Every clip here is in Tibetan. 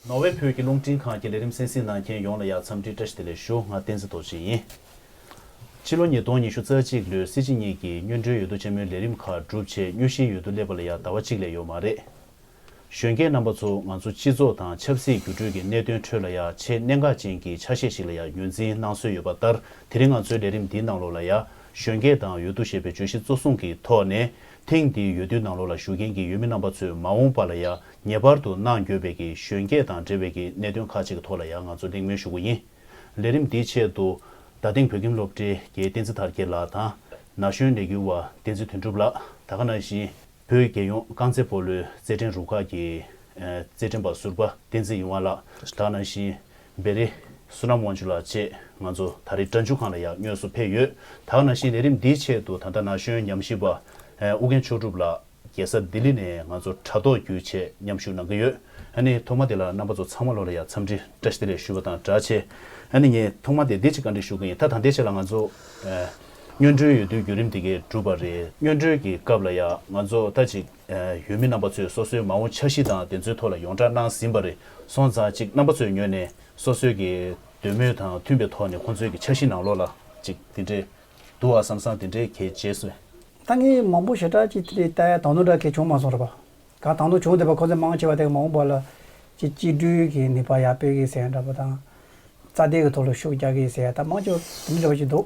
ནོར་ཝེ་བོད་ཀྱི་རླུང་འཕྲིན་ཁང་གི་ལས་རིམ་གསན་གཟིགས་གནང་མཁན་ཡོངས་ལ་ཡག་འཚམས་འདྲི་བཀྲ་ཤིས་བདེ་ལེགས་ཞུ་ང་བསྟན་འཛིན་རྡོ་རྗེ་ཡིན། ཕྱི་ལོ་ཉིས་སྟོང་ཉི་ཤུ་རྩ་གཅིག་ལོའི་སྲིད་སྤྱི་གཉིས་ཀྱི་སྨྱོན་འགྲོའི་ཡོད་དོ་ཆེན་མོའི་ལས་རིམ་ཁག་གྲུབ་ཆེད་སྨྱོ་བཞིན་ཡོད་དོ་སླེབས་པ་ལ་ཡག་ཟླ་བ་གཅིག་ལས་ཡོད་མ་རེད། གཞོན་སྐྱེས་རྣམ་པ་ཚོ་ང་ཚོ་སྤྱི་ཚོགས་དང་ཆབ་སྲིད་འགྱུར་འགྲོས་ཀྱི་གནད་དོན་ཁྲོད་ལ་ཡང་ཆེས་གནད་འགག་ཅན་གྱི་ཆ་ཤས་ཤིག་ལ་ཡང་ངོས་འཛིན་གནང་སྲོལ་ཡོད་པ་ལྟར་དེ་རིང་ང་ཚོའི་ལས་རིམ་འདིའི་ནང་ལོགས་ལ་ཡང་གཞོན་སྐྱེས་དང་ཡོད་དོ་ཞེས་པའི་བརྗོད་གཞི་གཙོ་བཟུང་གི་ཐོག་ནས་ཐེངས་འདིའི་ཡོད་དུས་ནང་ལོགས་ལ་ཞུགས་མཁན་གྱི་ཡུལ་མི་རྣམ་པ་ཚོས་མ་འོངས་པ་ལ་ཡང་ངེས་པར་དུ་གནང་དགོས་པའི་གི་གཞོན་སྐྱེས་དང་འབྲེལ་བའི་གི་གནད་དོན་ཁག་ཅིག་གི་ཐོག་ལ་ཡང་ང་ཚོ་གླེང་མོལ་ཞུ་དགོས་ཡིན། ལས་རིམ་འདིའི་ཆེད་དུ། ད་ཐེངས་བོད་ཁྱིམ་སློབ་གྲྭའི་གྱའི་བསྟན་འཛིན་དར་རྒྱས་ལགས་དང། ན་གཞོན་ལས་འགུལ་བ་བསྟན་འཛིན་དོན་གྲུབ་ལགས་ད་ག་ན་བཞིན། བོད་རྒྱལ་ཡོངས་རྐང་རྩེད་སྤོ་ལོའི་རྩེད་འགྲན་རུ་ཁག་གི། རྩེད་འགྲན་པ་ཟུར་པ་བསྟན་འཛིན་གཡུང་བ་ལགས་དང་ནང་བཞིན། བེ་རི། བསོད་ནམས་དབང་ཕྱུག་ལགས་བཅས་ང་ཚོ་ད་རེས་དྲྭ་འཇུག་ཁང་ལ་ཡང་སྙོལ་སུ་ཕེབས་ཡོད། དག་ནང་བཞིན་ལས་རིམ་འདིའི་ཆེད་དུ་ད་ལྟ་ན་གཞོན་ཉམས་ཞིབ་པ། ཨུ་རྒན་མཆོག་གྲུབ་ལགས་རྒྱལ་ས་ལྡི་ལི་ནས་ང་ཚོར་དྲྭ་ཐོག་བརྒྱུད་ཆེད་མཉམ་ཞུགས་གནང་གི་ཡོད། ཨ་ནི་ཐོག་མ་དེ་ལ་རྣམ་པ་ཚོ་ཚང་མ་ལོ་ལ་ཡང་འཚམས་འདྲི་བཀྲ་ཤིས་བདེ་ལེགས་ཞུ་བ་དང་སྦྲགས་ཆེ། ཨ་ནི་ངས་ཐོག་མ་དེ་བདེ་ཆེ་བཀའ་འདྲི་ཞུ་གི་ཡིན་ད་ད་འདི་ཆེད་ལ་ང་ཚོ། སྨྱོན་གྲོལ་ཡོད་དུས་བརྒྱུད་རིམ་དེ་གས་གྲུབ་པ་རེད་སྨྱོན་གྲོལ་གྱི་སྐབས་ལ་ཡང་ང་ཚོ་ལྟ་ཅིག་ཡུལ་མི་རྣམ་པ་ཚོས་སོ་སོའི་མ་འོངས་འཆར་གཞི་དང་དེ་ཚོའི་ཐོག་ལ་ཡོངས་གྲགས་གནང་ཟིན་པ་རེད་སོང་ཙང་ཅིག་རྣམ་པ་ཚོས་ཉོས་ནས་སོ་སོའི་གི་འདོད་མོས་དང་མཐུན་པའི་ཐོག་ནས་ཁོང་ཚོའི་གི་འཆར་གཞི་ནང་ལོགས་ལ་ཅིག་དེ་འདྲས་འདུག་ཨ་བསམ་སང་དེ་འདྲས་གས་རྗེས་སུ། ད་ངས་མང་པོ་ཞེ་དྲག་ཅིག་དེ་འདྲས་བལྟ་ཡ་དང་དོན་འདྲ་གས་བྱུང་མ་སོང་རེད་པ། ག་དང་དོན་བྱུང་དེ་བས་ཁོ་ཚོས་མང་ཆེ་བ་དེ་གས་མ་འོངས་པ་ལ་ཅིག་སྐྱིད་སྒྲུའི་གི་ནུས་པ་ཡག་སྤེལ་གི་ཟེར་ཡ་འདྲ་པོ་དང། རྩ་དེ་གི་ཐོག་ལ་ཤུགས་རྒྱག་གི་ཟེར་ཡ་ད་མང་ཆེ་བ་དེ་འདྲས་འདྲ་པོ་ཅིག་འདུག།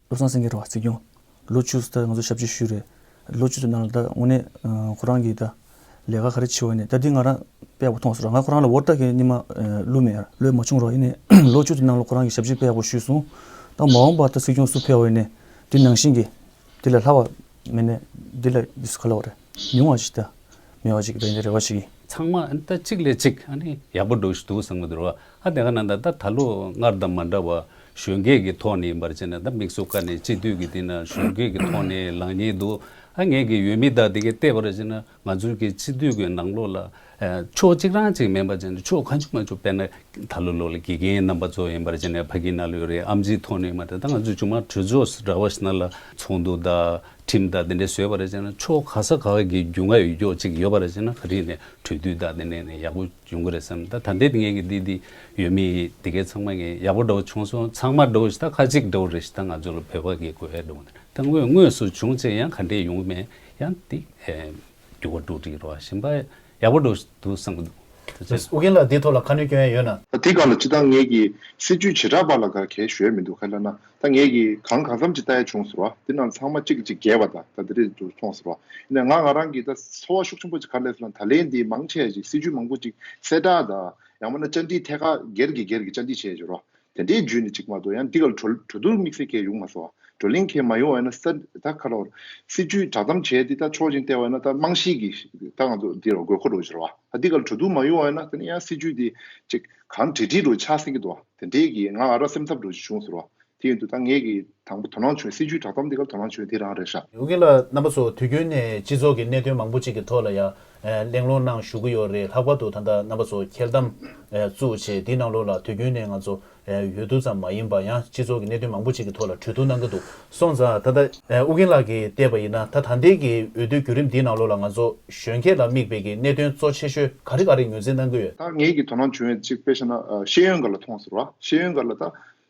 བློ་བཟང་སེང་གེ་རུ་བ་རྩིས་སྐྱོང། ལོ་བཅུ་ཟླ་ང་ཚོ་ཞབས་ཕྱི་ཞུས་རེད། ལོ་བཅུ་ཟླ་ནང་ལ་ད་ངོ་ནས་ཁོ་རང་གི་ད་ལས་ཀ་ག་རེ་བྱེད་འོས་ནས་ད་འདི་ང་རང་དཔེ་བོ་ཐོངས་སོང་ར་ང་ཁོ་རང་ལ་འོར་ད་གི་སྙིང་མ་བསླུ་མེད་ར། ལོས་མ་བྱུང་རོགས་ཡིན་ནས་ལོ་བཅུ་དེ་ནང་ལ་ཁོ་རང་གི་ཞབས་ཕྱི་དཔེ་བོ་ཞུས་སོང་ད་མ་འོངས་པ་ད་སྲིད་སྐྱོང་སུ་འཕེལ་འོས་ནས་འདི་ནང་བཞིན་གི་འདི་ལས་ལྷག་བ་མེད་ནས་འདི་ལས་འདི་སུ་ག་ལ་བ་རེད་མི་འོང་བ་ཞིག་ད་མི་འོང་བ་ཞིག་ད་འདི་རེ་བ་ཞིག་ཡིན། ཚང་མ་ད་གཅིག་ལས་གཅིག་ཡག་པོ་འགྲོ་གཞི་འདུག་བསམ་གི་འདུག་ར་ཨ་དེ་ག་ནང་ད་ད་ལོ་སྔར་དང་མ་འདྲ་བ་གཞོན་སྐྱེས་ཀྱི་ཐོག་ནས་ཡིན་པར་བྱས་ན་ད་མིག་ཟུང་ཁ་ནས་གཅིག་སྡུད་ཀྱི་དེ་ན་གཞོན་སྐྱེས་ཀྱི་ཐོག་ནས་ལངས་ཉེན་འདུག་ཨ་ངེད་ཀྱི་ཡུལ་མི་དག་དེ་གས་བལྟས་པར་བྱས་ན་ང་ཚོའི་གི་གཅིག་སྡུད་ཀྱི་ནང་ལོགས་ལ། ཕྱོགས་གཅིག་རང་གཅིག་མིན་པར་བྱས་ན་ཕྱོགས་གང་བྱུང་མ་བྱུང་དཔེར་ན་ད་ལོ་ལོགས་ལ་དགེ་རྒན་རྣམ་པ་ཚོ་ཡིན་པར་བྱས་ན་ཕ་གི་ན་ལོས་རེད་ཨམ་ཆིའི་ཐོག་ནས་ཡིན་པ་དེ་དག་ང་ཚོས་ཆུང་མ་གྲོས་ཚོགས་འདྲ་བ་ཞིག་ན་ལ་ཚོགས་འདུ་དག་ཁྲིམས་དག་དེ་འདྲ་བཟོས་པར་བྱས་ན་ཕྱོགས་ག་ས་ག་གི་རྒྱུ་ང་ཡོད་ཀྱོག་ཅིག་ཡོད་པར་བྱས་ན་ག་རིང་ནས་གྲོས་བསྡུར་དག་དེ་ནས་ནས་ཡག་པོ། འབྱུང་གི་རེད་བསམ་ད་ད་འདེད་ངེས་ཀྱི་འདི་འདི་ཡོད་མི་ཡི་དེ་གས་ཚང་མ་ངས་ཡག་པོ་འགྲོ་བྱུང་སོང་ཚང་མ་འགྲོ་བཞི་ད་ཁ་ཅིག་འགྲོ་རེད་བཞི་ད་ང་ཚོ་ལ་བོད་པ་གི་གོ་ཡ་འགྲོ་ད་དངོས་དངོས་སུ་བྱུང་ཚེ་ཡང་ག་འདྲས་ཡོང་གི་མེད་ཡང་དེ་རྒྱུ་བ་འགྲོ་དྲི་རོ་བཞིན་པ་ཡག་པོ་འགྲོ་བཞི་འདུག་བསམ་གི་འདུག་ད་ཆ། ཨོ་རྒྱན་ལགས་འདི་ཐོག་ལ་ཁ་ནུས་སྐྱོན་ཡ་ཡོད་ན། ད་དེ་ག་ལ་ཅི་ད་ངེས་ཀྱི་སྲིད་ཇུས་བྱེ་བྲག་པ་ལ་ག་གས་ཞོལ་མི་འདུག་ག་ལ་ན་ད་ངེད་ཀྱིས་གང་གང་འཚམ་ཅིག་བལྟ་ཡ་བྱུང་ཟེར་བ། དེ་རྣམས་ཚང་མ་གཅིག་གི་གཅིག་བརྒལ་བ་དང་ད་དེ་རིང་དུ་སོང་ཟེར་བ། ཡིན་ནའང་ང་ང་རང་གིས་ད་འཚོ་བ་ཤུགས་ཆེན་པོ་ཅིག་གར་སླེབས་སོང་ད་ལན་འདིའི་མང་ཆེ་བ་ཞིག་སྲིད་ཇུས་མང་པོ་ཅིག་གསལ་བསྒྲགས་དང་ཡང་མ་ན་བཅར་འདྲིའི་ཐད་ཀར་སྒེར་གྱིས་སྒེར་གྱིས་བཅར་འདྲི་བྱས་ཟེར་བ། དེ་འདྲའི་རྒྱུས་ནི་གཅིག་མ་གཏོགས་ཡང་འདི་གར་གྲོ་གྲོ་དུར་དམིགས་བསལ་མཁན་ཡོང་མ་སོང་བ། བགྲོ་གླེང་མཁན་མ་ཡོང་བ་ཡིན་ན་ས་ད་ཁ་རོག་སྲིད་ཇུས་བསྒྲགས་གཏམ་བྱས་ཏེ་ད་ཆོག་ཅིང་བལྟས་བ་ཡིན་ན་ད་རྨང་གཞིའི་གི་ད་ང་ཚོ་འདིར་དགོས་མཁོ་འགྲོ་ཟེར་བ། ད་འདི་གར་གྲོ་དུར་མ་ཡོང་བ་ཡིན་ན་དེ་ནི་ཡང་སྲིད་ཇུས་དེ་ཅིག་གང་དྲིལ་དྲིལ་རུ་ཆགས་སྲིད་ཀྱི་འདུག་བ། དེ་འབྲེལ་གྱིས་ང་ཨ་ར་སེམས་འཚབ་འགྲོ་རྒྱུ་བྱུང་ཟེར་བ། དེ་ཡིན་དུས་ད་ངས་ཀྱི་དང་པོ་དོ་སྣང་བྱུང་སྲིད་ཇུས་དྲ་ཐོག་འདི་གར་དོ་སྣང་བྱུང་དེ་རང་རེད་ཧྲ། ཝུ་ཀེ་ལ་རྣམ་པ་ཚོ་དུས་རྒྱུན་ནས་སྤྱི་ཚོགས་ཀྱི་གནད་དོན་མང་པོ་གཅིག་གི་ཐོག་ལ་ཡང་གླེང་སློང་གནང་བཞུགས་ཀྱི་ཡོད་རེད་ལྷག་པར་དུ་ད་ལྟ་རྣམ་པ་ཚོ་འཁྱེར་དམ། བཙུགས་བྱས་འདི་ནང་ལོགས་ལ་དུས་རྒྱུན་ནས་ང་ཚོ་ཡོད་དུ་ཙམ་མ་ཡིན་པ་ཡང་སྤྱི་ཚོགས་ཀྱི་གནད་དོན་མང་པོ་གཅིག་གི་ཐོག་ལ་གྲོས་བསྡུར་གནང་གི་འདུག་སོང་ཙང་ད་ལྟ་ཨུ་རྒྱན་ལགས་ཀྱིས་བལྟས་པ་ཡིན་ན་ད་ད་འདས་ཀྱི་འོས་བསྡུའི་རྒྱུད་རིམ་འདིའི་ནང་ལོགས་ལ་ང་ཚོ་གཞོན་སྐྱེས་ལ་དམིགས་འབེན་གྱི་གནད་དོན་གཙོ་ཆེ་ཤོས་ག་རེ་ག་རེ་ངོས་འཛིན་གནང་གི་ཡོད། ད་ངེད་ཀྱིས་དོ་སྣང་བྱུང་ཡོད་ཅིག་དཔེ་ཤེ་ན་ཤེས་ཡོན་འགར་ལ་ཐོངས་ཟེར་བ་ཤེས་ཡོན་འགར་ལ་ད་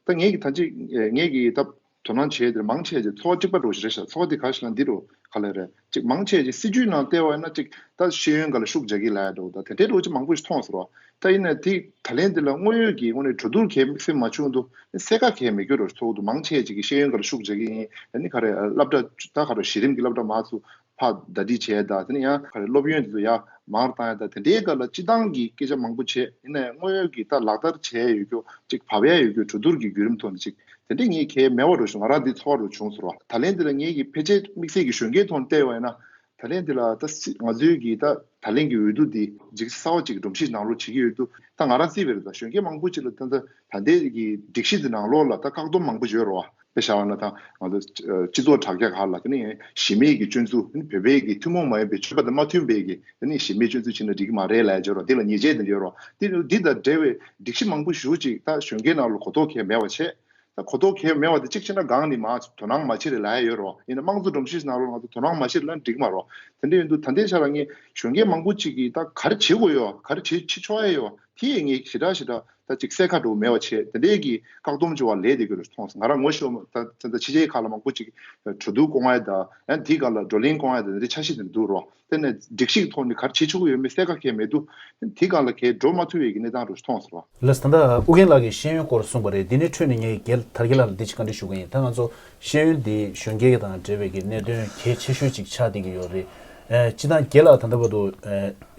ད་ངེད་ཀྱིས་ད་ཅིག་ངེད་ཀྱིས་ད་དོ་སྣང་བྱས་དེར་མང་ཆེ་བ་ཅིག་ཚོགས་གཅིག་པ་འགྲོ་བཞིན་རེད་ཤག་ཚོགས་དེ་ག་ཞིག་ལ་འདི་རུ་ག་ལ་ཡོད་རེད། ཅིག་མང་ཆེ་ཞིག་སྲིད་ཇུས་ནང་བལྟས་བ་ཡིན་ན་ཅིག་ད་ཤེས་ཡོན་འགའ་ལ་ཤུགས་རྒྱག་གི་ལ་ཡ་འདུག་ད་དེ་འདྲའི་དྲོ་ཅིག་མང་པོ་ཞིག་མཐོང་ཟེར་བ་ད་ཡིན་ན་དེ་ད་ལན་འདི་ལ་དངོས་ཡོད་ཀྱི་ངོ་ནས་གྲོས་བསྡུར་གལ་མིག་སེམས་མ་ཆུང་དུ་གསལ་ཁ་གལ་མི་གྱུར་རོ་ཚོགས་འདུ་མང་ཆེ་ཅིག་གིས་ཤེས་ཡོན་འགའ་ལ་ཤུགས་རྒྱག་གི་ཡིན་ད་ནི་ག་རེ་སླབ་གྲྭ་ད་ག་རེ་གཞི་རིམ་གྱི་སླབ་གྲྭ་མང་སུ་ཕ་ཟླ་བྲིས་བྱས་ད་དེ་ནི་ཡང་ག་རེ་སློབ་ཡོན་དེ་ཚོ་ཡ་མང་བཏང་ཡ་ད་དེ་འདྲའི་འགའ་ལ་སྤྱི་བཏང་གི་སྐད་ཆ་མང་པོ་བྱས་ཡིན་ན་དངོས་ཡོད་ཀྱི་ད་ལག་བསྟར་བྱས་ཡོད་རྒྱུ་ཅིག་བབ་ཡ་ཡོད་རྒྱུ་གྲོས་བསྡུར་གྱི་བརྒྱུད་རིམ་ཐོག་ནས་ཅིག་དེ་འདྲས་ངས་ཁའི་མལ་བ་རུ་ཞུ་ང་རང་འདི་འཚོ་བ་རུ་བྱུང་ཟེར་བ་ད་ལན་འདི་ལ་ངེད་ཀྱིས་ཕལ་ཆེར་དམིགས་བསལ་གྱི་གཞོན་སྐྱེས་ཐོག་ནས་བལྟས་བས་ན་ད་ལན་འདི་ལ་ད་ང་ཚོའི་གིས་ད་ད་ལན་གྱི་འོས་བསྡུ་འདི་འཇིག་རྟེན་གསར་བ་ཅིག་གི་སྒྲོམ་གཞི་ནང་ལོག་བྱེད་ཀྱི་ཡོད་འདུག་ད་ང་རང་རྩིས་བེར་ད་གཞོན་སྐྱེས་མང་པོ་ཅིག་ལ་ད་ད་ད་འདས་ཀྱི་སྒྲིག་གཞི་འདི་ནང་ལོག་ལ་ད་བཀག་སྡོམ་མང་པོ་བྱོས་རོགས་ད་བྱ་བ་ན་ད་ང་ཚོ་སྤྱི་ཚོགས་དྲ་རྒྱ་ག་ལ་ད་ནི་གཞི་མེད་ཀྱི་སྤྱོད་ཚུལ་ད་ནི་བོད་པའི་གིས་ཐུན་མོང་མ་ཡིན་པའི་ཆོས་པ་ད་མ་མཐུན་པའི་གིས་ད་ནི་གཞི་མེད་སྤྱོད་ཚུལ་བྱེད་ན་འགྲིག་གི་མ་རེད་ལ་བྱོས་རོགས་འདི་ལ་ཉེས་ཆད་འདི་བྱོས་རོགས་འདི་འདི་ད་འབྲེལ་བའི། སྒྲིག་གཞི་མང་པོ་ཞུ་ཅིག་ད་གཞོན་སྐའི་ནང་ལོ་གོ་རྟོག་གས་མེད་བ་ཆེ། ད་གོ་རྟོག་གས་མེད་བ་དེ་གཅིག་བྱེད་ན་གང་ནི་མ་དོ་སྣང་མ་བྱེད་རེ་ལ་ཡ་ཡོད་རོ་ཡིན་ན་དམངས་གཙོ་སྒྲོམ་གཞིས་ནང་ལོ་ང་ཚོ་དོ་སྣང་མ་བྱེད་རེ་ལ་འགྲིག་མ་རོ་དེ་འདྲ་ཡོད་འདུག་ད་ལྟའི་ཆ་ལ་ངས་གཞོན་སྐའི་མང་པོ་ཅིག་གིས་ད་ག་རེ་བྱེད་དགོས་ཡོད་ག་རེ་བྱེད་ཆོ་ཨེ་ཡོད་དེ་ཡི་ངས་ཞི་དྲག་ཞི་དྲག་ད་གཅིག་གསལ་ཁ་དྲོ་མེད་བ་ཆེ་དེ་འདྲས་ཀྱིས་བཀག་སྡོམ་བྱོས་བ་ལས་དེ་གོ་རེ་མཐོང་སོང་ང་རང་ངོ་ཤོར་མ་ད་ད་ད་ཕྱི་རྗེས་ཁག་ལ་མང་པོ་ཅིག་གྲོ་བསྡུར་སྐོང་ཨེ་ད་ཡང་དེ་ག་ལ་བགྲོ་གླེང་སྐོང་ཨེ་ད་དེ་འདྲས་ཆ་ཤི་དེ་འདུག་རོགས། དེ་ནས་སྒྲིག་གཞི་གི་ཐོག་ནས་གར་བྱེད་ཆོག་གི་ཡོད་མེད་གསལ་ཁ་ཁེལ་མེད་འདུག་དེ་གང་ལ་ཁེལ་འགྲོ་མ་ཐུབ་བའི་གི་གནས་སྟངས་རུ་མཐོང་ཟེར་བ། ལས་ཟླ་ཟླ་ཨུ་རྒན་ལགས་ཀྱི་ཤེས་ཡོན་སྐོར་གསུངས་པ་རེད་དེ་ནས་འཕྲོས་ནས་ངས་ཀྱི་གེལ་དར་གྱི་ལགས་ལ་འདི་གཅིག་བཀའ་འདྲི་ཞུ་གི་ཡིན་ད་ང་ཚོ་ཤེས་ཡོན་འདི་གཞོན་སྐྱེས་གྱི་དང་འབྲེལ་བའི་གི་གནད་དོན་གལ་ཆེ་ཤོས་གཅིག་ཆགས་བསྡད་ཀྱི་ཡོད་རེད་སྤྱི་དང་གྱེས་ལགས་ད་ལྟ་བར་དུ་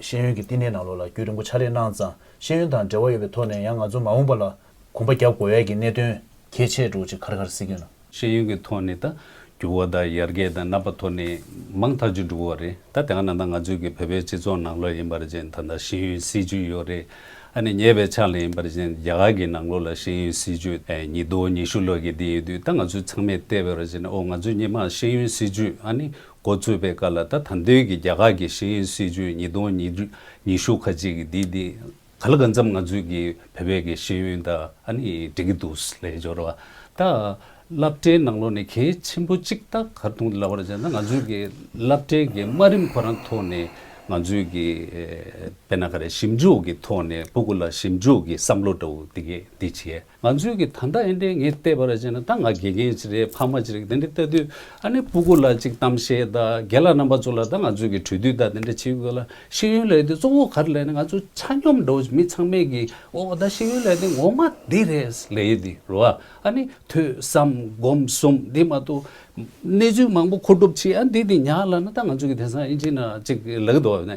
ཤེས་ཡོན་གྱི་བསྟི་གནས་ནང་ལོགས་ལ་རྒྱུས་རིང་པོ་ཆགས་རེ་གནང་ཙང་ཤེས་ཡོན་དང་འབྲེལ་བ་ཡོད་པའི་ཐོག་ནས་ཡང་ང་ཚོ་མ་འོངས་པ་ལ་གོམ་པ་རྒྱག་དགོས་ཡས་ཀྱི་གནད་དོན་གལ་ཆེ་དྲུག་ཅིག་ཁར་ཁར་སི་ཀྱོན། ཤེས་ཡོན་གྱི་ཐོག་ནས་ད་འགྱུར་བ་དང་ཡར་རྒྱས་དང་རྣམ་པ་ཐོག་ནས་མང་ཐག་ཅིག་འགྲོ་གི་རེད་ད་དེ་ག་ན་ད་ང་ཚོའི་གི་བོད་པའི་སྤྱི་ཚོགས་ནང་ལོགས་ཡིན་པ་ར་ཅན་ད་ད་ཤེས་ཡོན་སྲིད་བྱུས་ཡོད་རེད་ཨ་ནི་ཉེས་པའི་ཆ་ལ་ཡིན་པ་ར་ཅན་རྒྱ་གར་གི་ནང་ལོགས་ལ་ཤེས་ཡོན་སྲིད་བྱུས་ཉིས་དོ་ཉི་ཤུ་ལོགས་ཀྱི་དེ་ཡོད་དུས་ད་ང་ཚོའི་ཚང་མས་བལྟས་པའི་ར་ཅན་ཨོ་ང་ཚོའི་སྙེ་མ་ཤེས་ཡོན་སྲིད་བྱུས་ཨ་ནི་འགོ་བཙུགས་པའི་ཀ་ལ་ད་ད་འདོད་གི་རྒྱ་གར་གི་ཤེས་ཡོན་སྲིད་བྱུས་ཉིས་དོ་ཉི་ཤུ་ཁ་ཅིག་གི་དེ་དེ། ག་ལ་ག་འཚམས་ང་ཚོས་ཀྱི་བོད་པའི་གི་ཤེས་ཡོན་དང་ཨ་ནི་འགྲིག་གི་འདུག་ལས་སྦྱོར་བ། ད་བསླབ་གྲྭའི་ནང་ལོགས་ནས་གལ་ཆེན་པོ་གཅིག་ད་གར་དུང་ལ་བར་བྱས་ན་ང་ཚོས་ཀྱི་བསླབ་གྲྭའི་གི་དམའ་རིམ་ཁོ་རང་ཐོག་ནས་ང་ཚོས་ཀྱི་དཔེར་ན་ག་རེ་ཞིབ་འཇུག་གི་ཐོག་ནས་པོ་ཀུ་ལ་ཞིབ་འཇུག་གི་བསམ་བློ་འདྲ་བོ་འདི་གས་འདི་བྱས། ང་ཚོས་གི་ད་ལྟ་ཨེ་འདྲས་ངས་བལྟས་པར་བྱས་ན་ད་ང་དགེ་རྒན་ཅིག་རེད་ཕ་མ་ཅིག་རེད་དེ་འདྲས་བལྟ་དུས་ཨ་ནེ་སྤུ་གུ་ལ་ཅིག་གཏམ་བཤད་ད་རྒན་ལགས་རྣམ་པ་ཚོ་ལ་ད་ང་ཚོས་གི་གྲོས་བསྡུས་ད་དེ་འདྲས་བྱེད་དགོས་ལ་ཤེས་ཡོན་ལས་དེ་གཙོ་བོ་ག་རེ་ལས་ནི་ང་ཚོ་ཆ་སྙོམས་འགྲོ་མི་ཚང་མས་གི་འོ་ད་ཤེས་ཡོན་ལས་དེ་ངོ་མ་འདི་རེད་ལས་ཡོད་དེ་རོ་ཨ་ཨ་ནི་ཐོས་བསམ་སྒོམ་གསུམ་དེ་མ་ཏོ་གནས་ཚུལ་མང་པོ་མཁོ་སྒྲུབ་བྱེད་ཨ་འདི་འདི་ཉག་ལ་ན་ད་ང་ཚོས་གི་དེང་སང་ཨེ་འབྱིན་ན་ཅིག་གི་ལགས་དོ་ཨ་ནེ་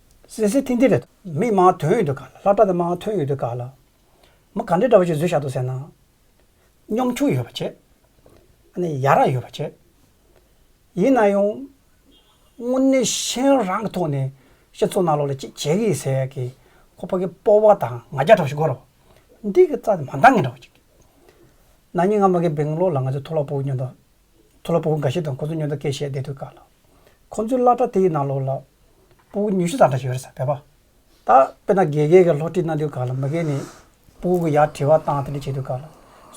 སེ་སེ་ཐིང་ཐིང་རེད། མི་མང་དོན་ཡོད་དུ་ག་ལ། ལྷ་བཀྲ་དང་མང་དོན་ཡོད་དུ་ག་ལ། མི་ག་འདྲའི་འདྲ་བ་ཞིག་བཟོས་བཞག་འདུག་ཟེར་ན། གཉོམ་ཆུང་ཡོད་པ་བྱེད། ཨ་ནི་ཡ་རངས་ཡོད་པ་བྱེད། ཡིན་ན་ཡང། དངོས་གནས་གཞན་རང་གི་ཐོག་ནས་སྤྱི་ཚོགས་ནང་ལོགས་ལ་ཅིག་བྱེད་གི་ཟེར་ཡག་གི། ཁོ་ཕ་གི་སྤོ་བ་དང་ང་རྒྱ་གྲོགས་ཞིག་གོ་རོགས། འདི་གི་རྩ་དེ་མ་འདང་ངེས་འདྲ་བ་ཅིག། ན་ནིང་ང་མ་གི་སྦེང་ལོར་ལ་ང་ཚོའི་ཐོག་ལ་སྤོ་བའི་སྙོན་དོ། མཐོ་སློབ་སྤོ་བོ་འགའ་ཤས་དང་ཁོ་ཚོ་ཉོན་རྟོག་སྐྱེ་བཞེས་བསྡད་འདུག་ག་ལ། ཁོ་ཚོའི་བླ་གྲྭ་དེ་ཡི་ནང་ལོགས་ལ། སྤོ་བོ་ཉུ་ཤུ་དང་འདྲ་ཞིག་ཡོད་རེད་ས་བས་པ། ད་དཔེར་ན་དགེ་རྒན་གྱི་སློབ་ཁྲིད་གནང་དུས་ག་ལ་མི་རྒན་ནས་སྤོ་བོ་གི་ཡར་དྲི་བ་བཏང་དེ་འདྲས་བྱས་འདུག་ག་ལ།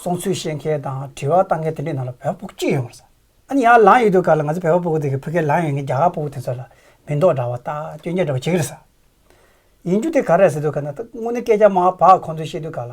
སོང་ཚུལ་བཤད་མཁན་དང་དྲི་བ་བཏང་མཁན་དེ་འདྲས་ནང་ལ་བས་པ་སྤོ་བོ་གཅིག་ཡོད་མ་རེད་ས། ཨ་ནི་ཡར་ལངས་ཡོད་དུས་ག་ལ་ང་ཚོ་བས་པ་སྤོ་བོ་དེ་གི་ཕི་གེར་ལངས་ཡོད་མཁན་རྒྱ་གར་སྤོ་བོ་དེ་ཚོ་ལ་མི་མདོག་འདྲ་བ་དང་སྐྱོན་ཆ་འདྲ་བ་བྱེད་ཀྱི་རེད་ས། ཡིན་རྒྱུ་དེ་ག་རེད་ཟེར་དུས་ག་ན་ད་དངོས་གནས་སྐད་ཆ་མང་བ་བག་ཁོང་ཚོས་བཤད་དུས་ག་ལ།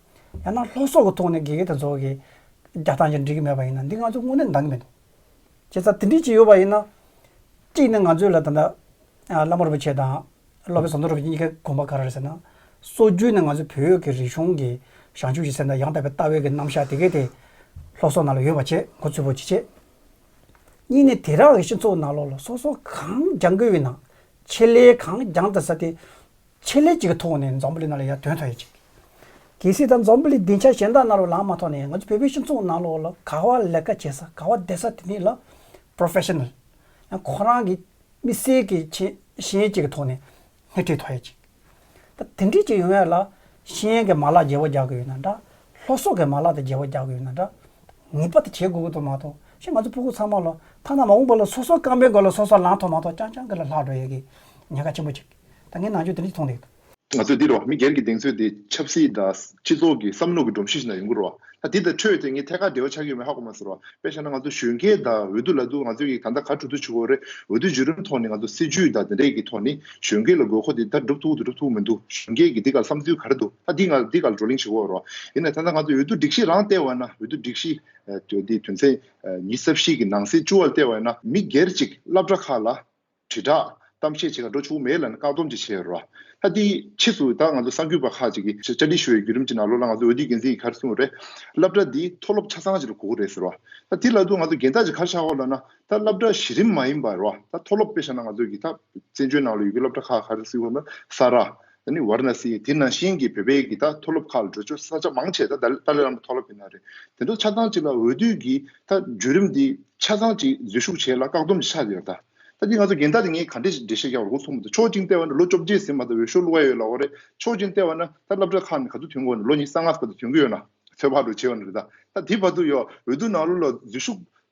ཡང་ན་ལྷོ་སོག་གི་ཐོག་ནས་དགེ་རྒན་དེ་ཚོ་གིས་རྒྱག་སྟངས་ཀྱང་འགྲིག་གི་མེད་པ་ཡིན་ན་འདི་ང་ཚོས་དངོས་གནས་འདང་གི་མེད། བྱས་ཙང་དེ་འགྲིག་ཅིག་ཡོད་པ་ཡིན་ན། གཅིག་ནི་ང་ཚོས་ལ་ད་ལྟ་བླ་མ་རིན་པོ་ཆེ་དང་སློབ་དཔོན་ཟམ་གདོང་རིན་པོ་ཆེ་གཉིས་ཀའི་དགོངས་པ་ག་རེ་རེད་ཟེར་ན། སྲོལ་རྒྱུན་ནས་ང་ཚོའི་བོད་ཡུལ་གྱི་རིག་གཞུང་གི་བྱང་ཆུབ་ཀྱི་སེམས་དང་ཡང་དག་པའི་ལྟ་བའི་གྱི་རྣམ་གཞག་དེ་གའི་དེ་ལྷོ་སོག་ནང་ལ་ཡོད་པ་ཆེད་མགོ་ཚུད་པོ་ཅི་བྱེད། གཉིས་ནི་དེ་རག་གི་སྤྱི་ཚོགས་ནང་ལོགས་ལ་སོ་སོ་གང་རྒྱག་དགོས་ཡོད་ན་ཆེད་ལས་གང་རྒྱང་དུ་ས་དེ། ཆེད་ལས་ཅིག་གི་ཐོག་ནས་འཛམ་བུ་གླིང་ནང་ལ་ཡར་ཐོན་ཐོན་ཡོད་ཅིག། གལ་སྲིད་ད་འཛམ་བུ་གླིང་སྡིངས་ཆ་གཞན་དག་ནང་ལ་ལངས་མ་ཐོག་ནས་ང་ཚོ་བོད་པའི་སྤྱི་ཚོགས་ནང་ལོགས་ལ་ག་བ་ལས་ཀ་བྱེད་ས་ག་བ་བསྡད་ས་དེ་ནི་ལ Professional ཡང་ཁོ་རང་གི་མི་སེར་གྱི་ཆེད་གཞན་ཅིག་གི་ཐོག་ནས་སྣེ་ཁྲིད་ཐོག་ཡོད་ཅིག། ད་དེ་འདྲས་ཅིག་ཡོང་བས་ལ་ཤེས་ཡན་གྱི་མ་ལག་རྒྱལ་བོ་རྒྱག་གི་ཡོད་ན་འདྲ། ལྷོ་སོག་གི་མ་ལག་དང་རྒྱལ་བོ་རྒྱག་གི་ཡོད་ན་འདྲ། ངེས་པ་དེ་བྱེད་དགོས་ཀྱི་འདུག་མ་གཏོགས་ཤི་ང་ཚོ་སྤུ་གུ་ཚང་མ་ལ་ཐ་ན་མ་འོངས་པ་ལ་སོ་སོ་རྐང་པའི་སྒོ་ལ་སོ་སོ་ལངས་ཐོག་མ་གཏོགས་རྐྱང་རྐྱང་གི་ལ་ལྷག་འགྲོ་ཡོད་ཀྱི་ཉེན་ཁ་ཆེན་པོ་ཅིག། ད་ངས་ནང་ཆོས་དེ་འདྲ་ཅིག་མཐོང་འདུག། ང་ཚོས་འདིར་བ་མི་སྒེར་གྱི་གདེང་ཚོད་དེ་ཆབ་སྲིད་དང་སྤྱི་ཚོགས་ཀྱི་བསམ་བློ་གྱི་སྒྲོམ་གཞི་ཞིག་ནང་ཡོང་གི་རོ། ད་འདི་དང་འཕྲོས་ཏེ་ངས་ཐད་ཀར་འབྲེལ་བ་ཆགས་ཀྱི་ཡོད་མེད་ཧ་གོ་མ་ཟེར་རོ། དཔེ་བཞག་ན་ང་ཚོ་གཞོན་སྐྱེས་དག་འོས་བསྡུ་ལ་འདུག་ང་ཚོས་ཀྱི་ད་ལྟ་ག་གྲུབ་ཚུལ་ཆུ་བོ་རེད་འོས་བསྡུ་བྱེད་རུང་ཐོག་ནས་ང་ཚོ་སྲིད་ཇུས་དང་དེ་འདྲ་ཀྱི་ཐོག་ནས་གཞོན་སྐྱེས་ལ་དགོས་མཁོ་དེ་ད་འགྲུབ་ཐུབ་ཀྱི་འདུག་འགྲུབ་ཐུབ་ཀྱི་མི་འདུག་གཞོན་སྐྱེས་ཀྱི་འདི་ག་ལ་བསམ་ཚུལ་ག་རེ་འདུག་ད་འདི་ང་འདི་ག་ལ་བགྲོ་གླེང་བྱེད་དགོས་རོ། ཡིན་ནའི་ད་ལྟ་ང་ཚོས་འོས་བསྡུ་སྒྲིག་གཞི་རང་ལྟེ་བ་ན་འོས་བསྡུ་སྒྲིག་གཞི་དེ་དོན་ཚན་ཉི་ས་བཞི་གྱི་ནང་སྲིད་ཅུ་བ་ལྟེ་བ་ན་མི་སྒེར་གཅིག་བླ་བྲ་ཁག་ལ། དྲིལ་བསྒྲགས་གཏམ་བཤད་བྱེད་ཁར་འགྲོ་ཆོག་མེད་ལ་བཀག་སྡོམ་ཅིག་བྱས་རོགས། ད་དེའི་ཕྱིས་སུ་ད་ང་ཚོ་གསར་འགྱུར་པ་ཁག་ཅིག་གིས་བཅར་འདྲི་ཞུ་བའི་བརྒྱུད་རིམ་གྱི་ནང་ལོགས་ལ་ང་ཚོ་འོས་བསྡུའི་འགན་འཛིན་གྱི་ཁར་སོང་རེད། སླབ་གྲྭ་འདི་མཐོ་སློབ་ཆ་ཚང་ཅིག་ལ་གོ་གི་རེད་ཟེར་རོགས། ད་དེ་ལ་དུ་ང་ཚོ་རྒན་བདག་ཅིག་ཁར་ཆགས་ཁོ་ལ་ན་ད་སླབ་གྲྭ་གཞི་རིམ་མ་ཡིན་པར་རོགས། ད་མཐོ་སློབ་དཔེ་ཆ་ན་ང་ཚོ་གི་ད་བཙན་བྱོལ་ནང་ལ་ཡོད་ཀྱི་སློབ་གྲྭ་ཁག་ཁར་སུས་ཁོ་ན་ས་ར། ད་ནི་བར་ན་སི་ཡིས་དེ་ནང་བཞིན་གྱི་བོད་པའི་གི་ད་མཐོ་སློབ་ཁག་ལ་འགྲོ་ཆོག་ས་ཆ་མང་ཆེ་ད་ཏཱ་ལའི་བླ་མ་མཐོ་སློབ་ཡིན་ན་རེད་དེ་འདྲ་ཆ་ཚང་གཅིག་ལ་འོས་བསྡུ་གི་ད་བརྒྱུད་རིམ་དེ་ཆ་ཚང་གཅིག་འཛུལ་ཞུགས་བྱས་ལ་བཀག་སྡོམ་གྱི་ཆ་ཡོད་ད་ད་ཅིག་ང་ཚོ་རྒན་ད་ནི་ངས་ག་འདྲི་འདྲི་བཤད་རྒྱག་པར་འགོ་ཚུགས་མི་འདུག་ཆོག་ཅིང་ལྟེ་བ་ན་ལོ་བཅོ་བརྒྱད་ཟིན་མ་ད་འོས་ཤོག་བླུག་ག་ཡོད་ལ་འོ་རེད་ཆོག་ཅིང་ལྟེ་བ་ན་ད་སླབ་གྲ་ཁག་ནས་ག་ཚོད་དུས་འགོར་ནས་ལོ་གཉིས་གསང་སྔགས་ག་ཚོད་དུས་འགོ་ཡོད་ན་ཚོད་དཔག་འགྲོ་བྱས་ཡོད་ན་རེད་ད་དེ་བར་དུ་ཡོ་འོས་བསྡུ་ནང་ལོ་ལ་འཛུལ་ཞུགས་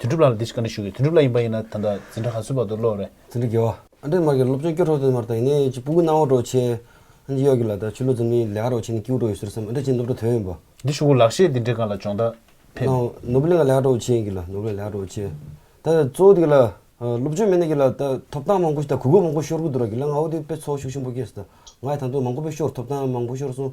དོན་གྲུབ་ལགས་ལ་འདི་ཞིག་བཀའ་འདྲི་ཞུ་གི་དོན་གྲུབ་ལགས་ཡིན་པ་ཡིན་ན་ད་ལྟ་འཛིན་གྲྭ་ག་ཚོད་བར་དུ་སློབ་རེད། འཛིན་གྲྭ་རྒྱལ་བ། ཨ་འདྲེ་མ་གི་སློབ་ཆེན་སྐྱོ་གྲོགས་ཚོ་མར་ད་ཡིན་ནའི་ཅི་སྤུ་གུ་སྣང་བ་གྲོགས་ཆེ། ཨ་འདྲེ་གཡོག་གི་ལ་ད་ཆུ་ལོ་འཛམ་གླིང་ལས་ཧ་རོགས་ཆེ་ནའི་སྐྱིའུ་གྲོགས་ཡོད་ཟེར་སམ་ཨ་འདྲེ་ཅི་སློབ་གྲྭ་དོན་ཡིན་པ། འདི་ཞུ་གུ་ལགས་ཤེས་འདི་འདྲེ་གང་ལ་སྦྱོང་ད་ཕེབས། ནའོ་ནོར་བུ་ལས་ང་ལས་ཧ་གྲོགས་ཆེ་ཡིན་གི་ལ་ནོར་བུ་ལས་ལས་ཧ་གྲོགས་ཆེ། ད་གཙོ་བོ་འདི་གི་ལ་སློབ་ཆོས་མེད་ནའི་གི་ལ་ད་ཐོབ་ཐང་མང་པོ་ཞིག་ད་གུས་པོ་མང་པོ་ཤོར་གི་འདུག་ར་གི་ལ་ང་འོ་དེ་དཔེ་ཚོགས་ཤུགས་ཆེན་པོ་སྐྱེས་སུ་ད་ང་ཡི་ད་དོན་མང་པོ་པོ་ཤོར་ཐོབ་ཐང་མང་པོ་ཤོར་སོང།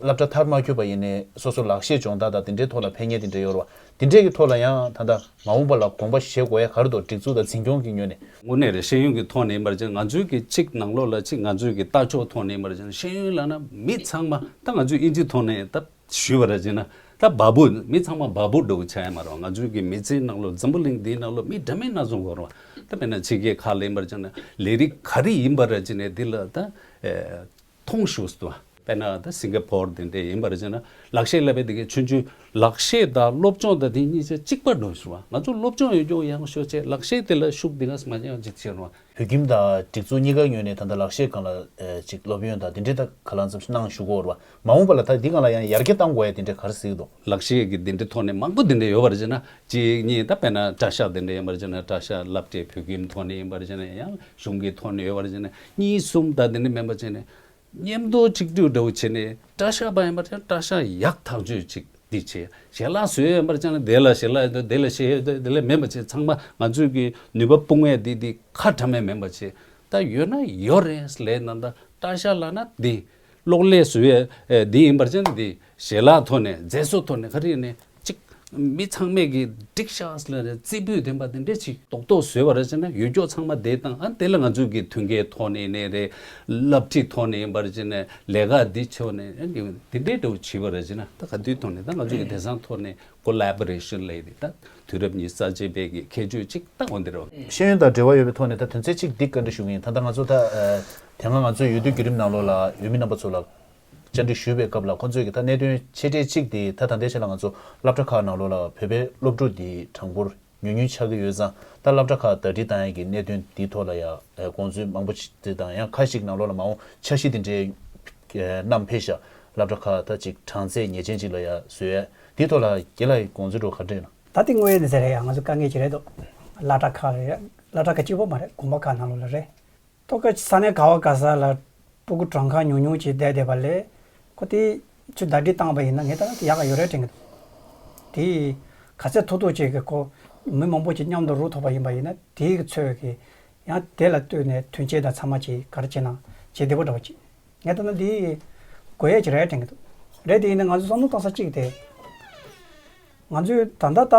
བསླབ་གྲྭ་མཐར་མ་འཁྱོལ་བ་ཡིན་ནས་སོ་སོ་ལག་ཤེས་སྦྱོང་བརྡར་དང་དེ་འདྲའི་ཐོག་ལ་ཕན་ངེས་དེ་འདྲ་ཡོད་རེད་བ། དེ་འདྲས་ཀྱི་ཐོག་ལ་ཡང་ད་ལྟ་མ་འོངས་པ་ལ་དགོངས་པ་བཞེས་དགོས་ཡ་གར་འདུག་སྒྲིག་འཛུགས་དང་འཛིན་སྐྱོང་གིས་ཉོས་ནས། དངོས་གནས་རེད་ཤེས་ཡོན་གྱི་ཐོག་ནས་ཡིན་པར་བརྗེད་ང་ཚོའི་གི་གཅིག་ནང་ལོགས་ལ་གཅིག་ང་ཚོའི་གི་ལྟ་ཕྱོགས་ཐོག་ནས་ཡིན་པར་བརྗེད་ན་ཤེས་ཡོན་ལ་ན་མི་ཚང་མ་ད་ང་ཚོའི་དབྱིན་ཇིའི་ཐོག་ནས་ད་ཞུས་པར་བརྗེད་ན་ད་འབའ་པོ་མི་ཚང་མ་འབའ་པོ་འགྲོ་གི་ཆ་ཡ་མ་རེད་བ་ང་ཚོའི་གི་མི་ཚེའི་ནང་ལོགས་འཛམ་བུ་གླིང་འདིའི་ནང་ལོགས་མི་འདྲ་མིན་སྣ་ཚོགས་འགོར་བ་ད་དཔེར་ན་ཕྱི་རྒྱལ་ཁག་ལ་ཡིན་པར་བརྗེད་ན་ལས་རིགས་ག་རེ་ཡིན་པར་བརྗེད་ནས་དེ་ལ་ད་ཐུང་ཞུ་སི་ཏུ། དཔེར་ན་ད་སིང་ག་ཕོར་དེ་འདྲས་ཡིན་པར་བྱས་ན་ལག་ཤེས་ལབ་པའི་དེ་གའི་ཆོས་འབྱུང་ལག་ཤེས་དང་སློབ་སྦྱོང་དང་དེ་གཉིས་ཆ་གཅིག་པར་འགྲོ་ཞུ་བ་ང་ཚོ་སློབ་སྦྱོང་ཡོད་རྒྱུ་ཡང་ཤོས་ཆེ་ལག་ཤེས་དེ་ལ་ཤུགས་དེ་ག་སི་མ་བྱས་ཡང་ཅིག་བྱས་རུང། བོད་ཁྱིམ་དང་སྒྲིག་འཛུགས་གཉིས་ཀ་ཉོས་ནས་ད་ལྟ་ལག་ཤེས་གང་ལ་ཅིག་སློབ་ཡོན་དང་དེ་འདྲས་ད་ག་ལ་འཛམ་ཤི་གནང་ཞུ་གོ་རུ་བ་མ་འོངས་པ་ལ་ད་འདི་གང་ལ་ཡང་ཡར་རྒྱས་གཏང་དགོ་ཡ་དེ་འདྲས་ག་རི་སིག་དོ། ལག་ཤེས་ཀྱི་དེ་འདྲས་ཐོག་ནས་མང་པོ་དེ་འདྲས་ཡོད་པར་བྱས་ན་གཅིག་གཉིས་ད་དཔེར་ན་གྲ་ཤག་དེ་འདྲས་ཡིན་པར་བྱས་ན་གྲ་ཤག་ལབ་དེ་བོད་ཁྱིམ་ཐོག་ནས་ཡིན་པར་བྱས་ན་ཡང་གཞུང་གི་ཐོག་ནས་ཡོད་པར་བྱས་ན་གཉིས་གསུམ་དག་དེ་ནས་མེད་པར་བྱས་ནས། སྙེམས་དོར་ཆིག་སྒྲིལ་འདྲ་བོ་བྱས་ནས། སྐྲ་ཤག་པ་ཡིན་པར་ཅང་སྐྲ་ཤག་ཡག་ཐག་གཅོད་ཅིག་འདི་བྱས། ཞལ་ལག་བཟོས་ཡིན་པར་ཅང་དེ་ལ་ཞལ་ལག་ཡོད་དེ་ལ་ཞལ་ཡོད་དེ་ལ་མེད་པར་བྱས་ཚང་མ་ང་ཚོས་ཀྱི་ནུས་པ་སྤུངས་བས་དེ་དེ་ཁ་བྲ་མེད་མེད་པར་བྱས། ད་ཡོད་ན་ཡོད་རེད་ལས་ན་ད་སྐྲ་ཤག་ལག་ན་དེ། གློག་ཀླད་བཟོ་བའི་འདི་ཡིན་པར་ཅན་དེ་ཞལ་ལག་ཐོག་ནས་མཛེས་བཟོ་ཐོག་ནས་ཧ་རེ་ནས་ཅིག། མི་ཚང་མས་གིས་སྒྲིག་ཤགས་ལ་རྩིས་སྤུས་ལྡན་པ་དེ་འདྲས་ཅིག་རྡོག་རྡོག་བཟོས་པར་ཅན་ཡུལ་སྐྱོགས་ཚང་མ་དེ་དང་ཨ་དེ་ལ་ང་ཚོས་གིས་མཐུན་ཁའི་ཐོག་ནས་ནས་རེད། བསླབ་ཁྲིད་ཐོག་ནས་ཡིན་པར་ཅན་ལས་ཀ་འདི་ཆོག་ནས་ཨ་གིས་དེ་འདྲས་དུ་བྱིས་པར་ཅན་ད་ག་དུས་ཐོག་ནས་ད་ང་ཚོས་གིས་དེ་སང་ཐོག་ནས Collaboration ལས་རིགས་དང་དུས་རབས་གཉིས་གསར་བརྗེའི་སྤེལ་གྱི་ཁྱད་ཆོས་ཅིག་ལྟ་བུ་འདིར། ཤེས་ཡོན་དང་འབྲེལ་བ་ཡོད་པའི་ཐོག་ནས་ད་དོན་ཚན་གཅིག་འདི་བཀའ་འདྲི་ཞུ་གི་ཡིན་ད་ལྟ་ང་ཚོ་ད། དེ་སྔ་ང་ཚོས་ཡུལ་དུས་བརྒྱུད་རིམ་ནང་ལོགས་ལ་ཡུལ་མི་རྣམ་པ་ཚོ་ལ། བཅར་འདྲི་ཞུས་པའི་སྐབས་ལ་ཁོང་ཚོས་ཀྱི་ད་གནད་དོན་ཆེ་གྲས་གཅིག་དེ་ད་ད་ལྟའི་ཆ་ལ་ང་ཚོ་སླབ་གྲྭ་ཁག་ནང་ལོགས་ལ་བོད་པའི་སློབ་ཕྲུག་དེའི་གྲངས་འབོར། ཉུང་ཉུང་ཆགས་ཀྱི་ཡོད་ཙང་ད་སླབ་གྲྭ་ཁག་ཟླ་སྒྲིལ་བཏང་ཡག་གི་གནད་དོན་འདིའི་ཐོག་ལ་ཡང་དགོངས་ཚུལ་མང་པོ་བརྩི་དང་ཡང་ཁ་ཞིག་ནང་ལོག་ལ་མ་འོང་འཆར་གཞི་དེ་འདྲའི་རྣམས་འཕེལ་བཞག་སླབ་གྲྭ་ཁག་ད་ཅིག་གྲངས་ཚད་ངེས་ཅན་ཅིག་ལ་ཡང་བཟོས་ཡག་འདིའི་ཐོག་ལ་དགེ་ལ་དགོངས་ཚུལ་འགྲོ་ག་འདྲ་ཡིན། ད་དེ་དངོས་ཡོད་གནས་ཚད་རེད་ཡ་ང་ཚོ་དཀའ་ངལ་གྱི་རེད་དོ། སླ་གྲྭ་ཁག་རེད་ཡ་སླ་གྲྭ་ཁག་གཅིག་པོ་མ་རེད་དགོངས་པ་ཁག་ནང་ལོག་ལ་རེད། ཐོ་སྐད་ཆུ་ཚ་ནས་ག་བ་ག་ས་ལ་སྤྲུལ་སྐུ་བྲང་ཁ་ཉུང་ཉུང་ཅིག་བསྡད་བསྡད་པ་ལས་ཁོ་དེ་ཆུ་ཟླ་སྒྲིལ་བཏང་བ་ཡིན་ན་ངས་ད་ལྟ་ཡག་ག་ཡོད་རེད་དྲན་གི་འདུག་དེ་ཡིས་ག་ཚད་ཐུག་ཐུག་ཅིག་གིས་ཁོ་མི་མང་པོ་ཅིག་མཉམ་དུ་རུ་ཐོག་པ་ཡིན་པ་ཡིན་ན་དེའི་ཚོད་ཀྱིས་ཡང་དེ་ལ་ལྟོས་ནས་དུས་ཆེན་དང་ཚང་མ་ཅིག་གར་བྱེད་ན་བྱེད་བདེ་པོ་འདྲ་བ་ཅིག་ངས་ད་ལྟ་འདི་དགོས་ཡས་ཅིག་རེད་དྲན་གི་འདུག་རེད་དེ་ཡིན་ན་ང་ཚོས་བསམ་བློ་བཏང་ས་གཅིག་དེ་ང་ཚོས་ད་ལྟ་ད།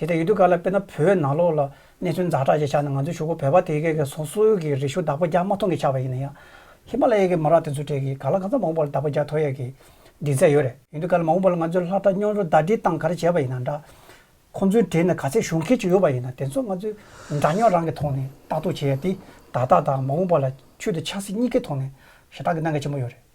དེ་ལྟར་ཡུལ་དུས་ག་ལ་དཔེར་ན་བོད་ནང་ལོགས་ལ་གནས་ཚུལ་འཛའ་དྲག་ཅིག་ཆགས་ནས་ང་ཚོའི་ཕྱུག་པོ་བོད་པ་དེ་གའི་སོ་སོའི་གི་རི་ཤུ་དག་པོ་རྒྱག་མ་མཐོང་གི་ཆགས་པ་ཡིན་ན་ཡང། ཧི་མ་ལ་ཡའི་གི་མ་རག་དེ་ཚོའི་གྲས་ཀྱི་ག་ལ་གང་ཙམ་མང་བོ་པ་ལ་དག་པོ་རྒྱག་ཐོ་ཡས་གི་འདྲིས་ཚད་ཡོད་རེད། ཡུལ་དུས་ག་ལ་མང་བོ་པ་ལ་ང་ཚོའི་ལྷ་བྲག་སྨྱོན་རུ་ཟླ་སྒྲིལ་སྟངས་ག་རེ་བྱས་པ་ཡིན་ན་འདྲ། ཁོང་ཚོའི་གྲས་ནས་ག་ཚད་ཞུགས་མཁན་ཅིག་ཡོད་པ་ཡིན་ན་དེ་ཚོ་ང་ཚོའི་འདྲ་སྨྱོན་རང་གི་ཐོག་ནས་ལྟ་རྟོག་བྱས་ཡས་དེ་ད་ལྟ་དང་མང་བོ་པ་ལ་ཆུད་དུ་ཆགས་སྲིད་གཉིས་ཀའི་ཐོག་ནས་ཞེ་ཐག་གི་གནང་གི་ཆེན་པོ་ཡོད་རེད།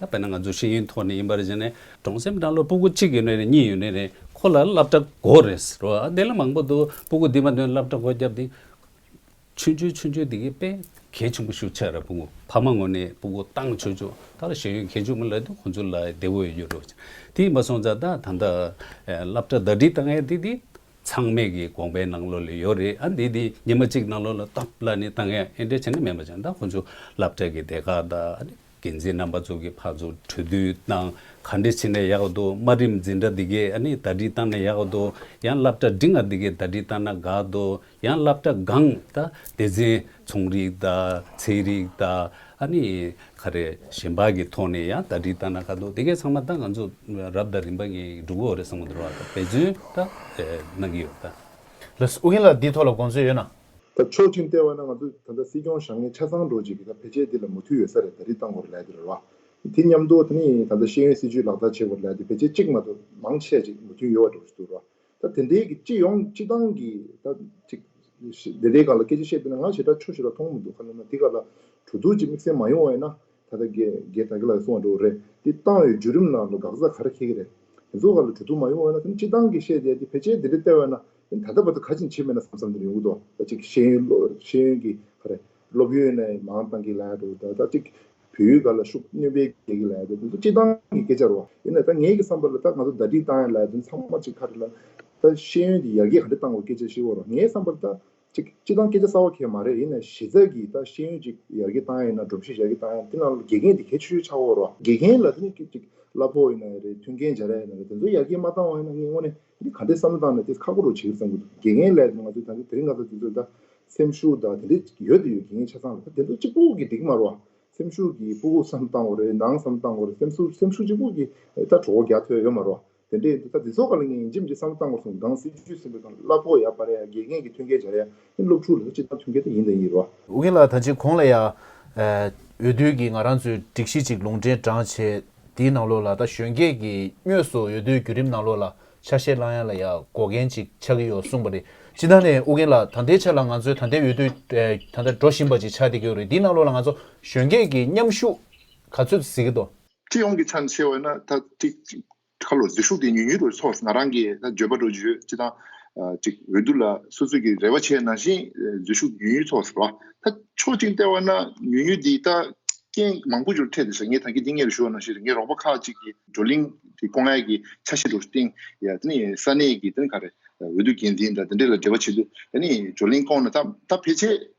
ད་བས་ན་ང་ཚོ་ཤེས་ཡོན་ཐོག་ནས་ཡིན་པ་རེད་ཅེ་ནས། གྲོང་སེམས་སྦྲང་བླུགས་སྤུ་གུ་གཅིག་ཡོད་ན་རེད་གཉིས་ཡོད་ན་རེད་ཁོ་ལ་བསླབ་གྲྭ་དགོས་རེད་ཟེར་རོ། དེ་ལ་མང་པོ་འདུག་སྤུ་གུ་འདི་མ་འདོན་བསླབ་གྲྭ་དགོས་རྒྱབ་འདི། ཆོས་འབྱོན་ཆོས་འབྱོན་འདི་གའི་དཔེ་གལ་ཆེན་པོ་ཤུགས་ཆགས་ར་སྤུ་གུ་ཕ་མ་ངོ་ནས་སྤུ་གུ་ཏང་ཆོས་འབྱོན་ད་ལ་ཤེས་ཡོན་གལ་ཆུང་མི་ལ་དེ་ཁོ་ཚོ་ལ་བདེ་བོ་ཡོད་རོ། དེ་ཡིན་པ་སོང་ཙང་ད་ད་ལྟ་བསླབ་གྲྭ་ཟླ་སྒྲིལ་བཏང་ཡ་དེ་དེ་ཚང་མས་ཀྱི་དགོངས་པའི་ནང་ལོགས་ལ་ཡོད་རེད་ཨ་འདི་དེ་ཉི་མ་གཅིག་ནང་ལོགས་ལ་སྟོབས་ལ་ནས་བཏང་ཡ་ཨེ་འདྲ་བྱས་ན་མེད་པ་ཅང་ད་ཁོ་ཚོ་བསླབ་གྲྭ་གི་དེ་ག་ད། འགན་འཛིན་རྣམ་པ་ཚོ་གི་ཕར་ཚུར་གྲོས་བསྡུར་དང་ག་འདྲི་བྱེད་ནས་ཡག་འདུག་དམའ་རིམ་འཛིན་གྲྭ་འདི་གས་ཨ་ནི་ད་འདྲི་བཏང་ནས་ཡག་འདུག་ཡང་སླབ་གྲྭ་འབྲི་ང་འདི་གས་ད་འདྲི་བཏང་ན་དགའ་འདུག་ཡང་སླབ་གྲྭ་གང་ད་སྡེ་ཚན་ཚོང་རིག་ད་ཚན་རིག་ད་ཨ་ནི་ག་རེ་གཞན་པ་གི་ཐོག་ནས་ཡང་ད་འདྲི་བཏང་ན་དགའ་འདུག་དེ་གས་ཚང་མ་ད་ང་ཚོ་རབ་ད་རིམ་པ་ངེས་འགྲུབ་གོ་རེ་བསམ་གོ་འདྲི་བ་ད་འབད་བརྩོན་ད་གནང་གི་ཡོད་ད། ལྷ་སྲིན་ཨུ་ཡིན་ལགས་འདི་ཐོག་ལ་དགོངས་ཚུལ་ཡོད་ན། ད་མཆོག་ཅིང་ལྟེ་བ་ན་ང་ཚོ་ད་ལྟ་སྲིད་སྐྱོང་ཞང་ངེ་ཆ་ཚང་འགྲོ་བྱེད་ཀྱི་ད་ཕལ་ཆེར་འདི་ལ་མུ་མཐུད་ཡོད་ས་རེད་ད་རིགས་གཏང་དགོས་རེད་ལས་འདི་རེད་བ། དེ་མཉམ་དུ་ད་ནི་ད་ལྟ་ཤེས་ཡོན་སྲིད་བྱུས་ལག་བསྟར་བྱེད་དགོས་རེད་ལས་འདི་ཕལ་ཆེར་གཅིག་མ་གཏོགས་མང་ཆེ་བ་ཅིག་མུ་མཐུད་ཡོད་བ་འགྲོ་བཞིན་འདུག་རེད་བ། ད་དེ་འདྲའི་གི་སྤྱི་ཡོངས་སྤྱི་བཏང་གི་ད་ཅིག་དེ་འདྲའི་སྒང་ལ་སྐད་ཆ་བཤད་འདོད་ན་ང་ཞེ་དྲག་ཆོས་ཞེ་དྲག་མཐོང་མི་འདུག་ཁ་ནོར་ན་དེ་ག་ལ་གྲོས་བསྡུར་གྱི་དམིགས་བསལ་མ་ཡོང་བ་ཡིན་ན་ད་ལྟ་རྒྱལ་རྒྱལ་དག་གི་ལག་གི་སྲུང་བ་འགྲོ་གི་རེད་དེ་བཏང་ཡོད་བརྒྱུད་རིམ་ནང་དུ་འགག་རྩ་ག་རེ་འཁེལ་གི་རེད་དེ་ཚོ་ག་ལ་གྲོས་བསྡུར་མ་ཡོང་བ་ཡིན་ན་ད་ནི་སྤྱི་བཏང་གི་བཤད་དེ་འདི་ཕལ་ཆེར་འདི་འདྲའི་ལྟེ་བ་ན་ད་ལྟ་བར་དུ་ཁ་ཆེམས་ཕྱིར་མེད་ན་བསམ་བསམ་དེར་ཡོང་གི་འདུག་ད་ཅིག་ཤེས་ཡོན་ཤེས་ཡོན་གྱི་ཧ་རེ་སློབ་ཡོན་ནས་མང་གཏང་གི་ལགས་འདུག་ད་ད་ཅིག་བོད་ཡུལ་ག་ལ་ཤུགས་སྣོན་སྤེལ་རྒྱག་གི་ལགས་འདུག་དེ་ཚོ་སྤྱི་བཏང་གི་སྐད་ཆ་རོ་ཡིན་ན་ད་ངེད་ཀྱི་བསམ་པ་ལ་ད་ང་ཚོ་ཟླ་སྒྲིལ་བཏང་ཡ་ལགས་དོན་ཚང་མ་ཅིག་ཁ་རེ་ལ་ད་ཤེས་ཡོན་གྱི་ཡར་རྒྱས་ག་འདྲེ་བཏང་བ་སྐད་ཆ་ཤེས་བོ་རོགས་ངའི་བསམ་པར་ད་ཅིག་སྤྱི་བཏང་སྐད་ཆ་གསར་བ་ཁས་མ་རེད་ཡིན་ན་གཞི་རྩ་གི་ད་ཤེས་ཡོན་ཅིག་ཡར་རྒྱས་བཏང་ཡ་ཡིན་ན་སྒྲོམ་གཞི་ཡར་རྒྱས་བཏང་ཡ་དེ་རྣམས་ལ་དགེ་རྒན་དེ་གལ་ཆེ་ཤོས་ཆགས་བོ་རོགས་དགེ་རྒན་ལ་དེ་ནས་ཅིག་གླ་ཕོགས་ཡིན་ན་ཡ་རེད་མཐུན་རྐྱེན་སྦྱར་ཡ་ཡིན་ན་རེད་དེ་ཚོ་ཡར་རྒྱས་མ་བཏང་བ་ཡིན་ན་ངས་དངོས་ནས་འདི་ག་འདྲའི་བསམ་བློ་བཏང་ནས་དེ་ཁག་པོ་རུ་བྱེད་ཙམ་དགོས་འདུག་དགེ་རྒན་ལས་ང་ཚོའི་ད་ལྟའི་དེ་རིང་ང་ཚོ་དེ་ཚོ་ད་སེམས་ཤུགས་དང་དེ་འདྲས་ཡོད་དུ་ཡོད་དགེ་རྒན་ཆ་ཚང་ལ་ད་དེ་ཚོ་གཅིག་པུ་གི་འགྲིག་མ་རུ་བ་སེམས་ཤུགས་ཀྱི་སྤུ་གུ་སམ་བཏང་བ་རེད་ནང་སམ་བཏང་བ་རེད་སེམས་སུ་སེམས་ཤུགས་གཅིག་པུ་གི་ད་གྲོགས་རྒྱ་ཐོས་ཡོད་མ་རུ་བ་དེ་འདྲས་ཡོད་དུ་ད་དེ་ཚོ་ག་ལ་ངས་ཡིན་ཇི་མི་ཇི་བསམ་བློ་བཏང་དགོས་སོང་སྒང་སྲིད་ཇུས་ཟིན་པའི་སྐབས་སླ་ཕོགས་ཡག་པ་རེད་ཡ་དགེ་རྒན་གྱི་ཐོན་སྐལ་བྱ་རེད་ཡ་སློབ་ཕྲུག་ལགས་སྤྱི་ལྟར་ཐོན་མཁན་དེ་ཡིན་དང་ཡིན་རོགས། ཝུ་གིན་ལགས་ད་ཅི་གོང་ལ་ཡང། འོས་བསྡུའི་གི་ང་རང་ཚོའི་སྒྲིག་གཞི་གཅིག་ལུང་འདྲེན་བགྲང་བྱས་དེའི་ནང་ལོགས་ལ་ད་གཞོན་སྐྱེས་ཀྱི་སྨྱོས་སུ་འོས་བསྡུའི་བརྒྱུད་རིམ་ནང་ལོགས་ལ་ཆ་ཤས་བླང་ཡ་ལ་ཡང་འགོག་རྒན་གཅིག་ཆགས་ཀྱི་ཡོད་གསུངས་པ་རེད་སྤྱི་ལྟར་ནས་ཝུ་གིན་ལགས་ད་ལྟའི་ཆ་ལ་ང་ཚོའི་ད་ལྟའི་འོས་བསྡུ་ད་ལྟ་འགྲོ་བཞིན་པ་གཅིག་ཆགས་ཏེ་ཀྱི་རེད་དེའི་ནང་ལོགས་ལ་ང་ཚོ་གཞོན་སྐྱེས་ཀྱི་མཉམ་ཤུགས་ག་ཚོད་ཟིག་གི་འདུག། སྤྱི་ཡོངས་ཀྱི་ཆ་ནས་བཤད་བ་ན་ད་ཅི། ཁ་ལོ་ཟིག་ཤུགས་དེ་ཉུལ་ཉུལ་དུ་ཆོག་ང་རང་གིས་ད་བརྗོད་པ་འགྲོ་བརྗོད་ཅི་ཐང་ཅིག་འོས་བསྡུ་ལ་སོ་སོས་ཀྱི་རེ་བ་བྱས་ནང་བཞིན་ཟིག་ཤུགས་ཉུལ་ཉུལ་ཆོག་ཟེར་བ་ད་ཕྱོགས་གཅིག་བལྟས་བ་ན་ཉུལ་ཉུལ་འདི་ད་རྐྱེན་མང་པོ་འབྱོར་འཕྲད་དེ་བྱས་ངས་ད་གི་འདི་ངས་རེ་ཞུ་བ་ནང་བཞིན་རེད་ངའི་རོགས་པ་ཁག་ཅིག་གིས་བགྲོ་གླིང་གི་སྐོ་ངལ་གྱི་ཆ་ཤས་དྲུག་སྟེང་ཡ་དེ་ནི་ས་གནས་ཀྱི་དེ་ནི་ག་རེད་འོས་བསྡུ་འགན་འཛིན་དང་དེ་འདྲས་ལ་འབྲེལ་བ་བྱེད་དུས་ད་ནི་བགྲོ་གླིང་སྐོར་ན་ད་ད་ཕལ་ཆེར།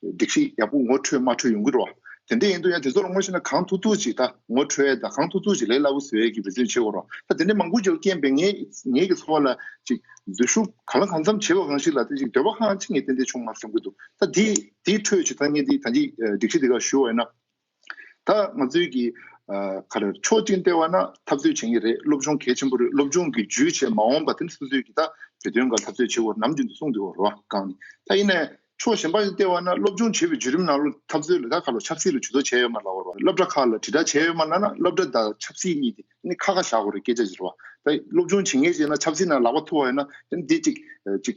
སྒྲིག་གཞི་ཡག་པོ་ངོ་འཕྲོད་མ་འཕྲོད་ཡོང་གི་རོགས། དེ་འདྲས་ཡིན་དུས་ཡང་དེ་ཚོ་ལ་ངོ་ཤེས་ན་གང་ཐུག་ཐུག་ཅིག་ད་ངོ་འཕྲོད་ད་གང་ཐུག་ཐུག་ཅིག་ལས་སླ་བོ་ཟེར་གྱི་རེ་འདུན་བྱེད་དགོས་རོགས། ད་དེ་འདྲས་མང་པོ་འཇོག་རྐྱེན་པས་ངེད་ཀྱི་འཚོ་བ་ལ་ཅིག་འཛུལ་ཞུགས་གང་ལ་གང་འཚམ་བྱེད་པ་གང་ཞིག་ལ་ད་ཅིག་འདོད་པ་ཧང་ཧང་ཅིག་ངས་ཏན་ཏན་བྱུང་མ་བསམ་གྱི་འདུག་ད་དེའི་ཁྲོད་ཅིག་ད་ངས་འདི་ད་ཅིག་སྒྲིག་གཞི་འདི་ག་ཞུ་བ་ཡིན་ན། ད་ང་ཚོའི་གི་ག་རེ་ཆོག་ཅིང་ལྟེ་བ་ན་འཐབ་རྩོད་བྱེད་ངེས་རེད་སློབ་སྦྱོང་གལ་ཆེན་པོ་རེད་སློབ་སྦྱོང་གི་ཇུས་བྱེད་མ་འོངས་པ་དེ་སོ་སོས་གི་ད་བོད་དོན་འགའ་འཐབ་རྩོད་བྱེད་དགོས་ནམ་རྒྱུན་དུ་གསུང་དུ་བ་རོ་གང་ནི་ད་ཡིན་ནའི་ཕྱོགས་གཞན་པ་ནི་ལྟེ་བ་ན་སློབ་སྦྱོང་བྱེད་པའི་བརྒྱུད་རིམ་ནང་ལོ་འཐབ་རྩོད་ལ་ད་ག་ལོ་ཆབ་སྲིད་ལ་ཇུས་གཏོགས་བྱས་ཡོད་མ་ལགས་བ་རོ་སློབ་གྲྭ་ཁག་ལ་དྲིལ་བསྒྲགས་བྱས་ཡོད་མ་ལགས་ན་སློབ་གྲྭ་དང་ཆབ་སྲིད་གཉིས་དེ་ནི་ཁ་ཁ་བཞག་དགོས་རེད་སྐད་ཆ་འདི་རོ་ད་སློབ་སྦྱོང་བྱེད་ངེས་བྱས་ན་ཆབ་སྲིད་ནང་ལག་པ་འཐུ་བ་ཡོད་ན་དེ་ནི་དེ་ཅིག་ཅིག་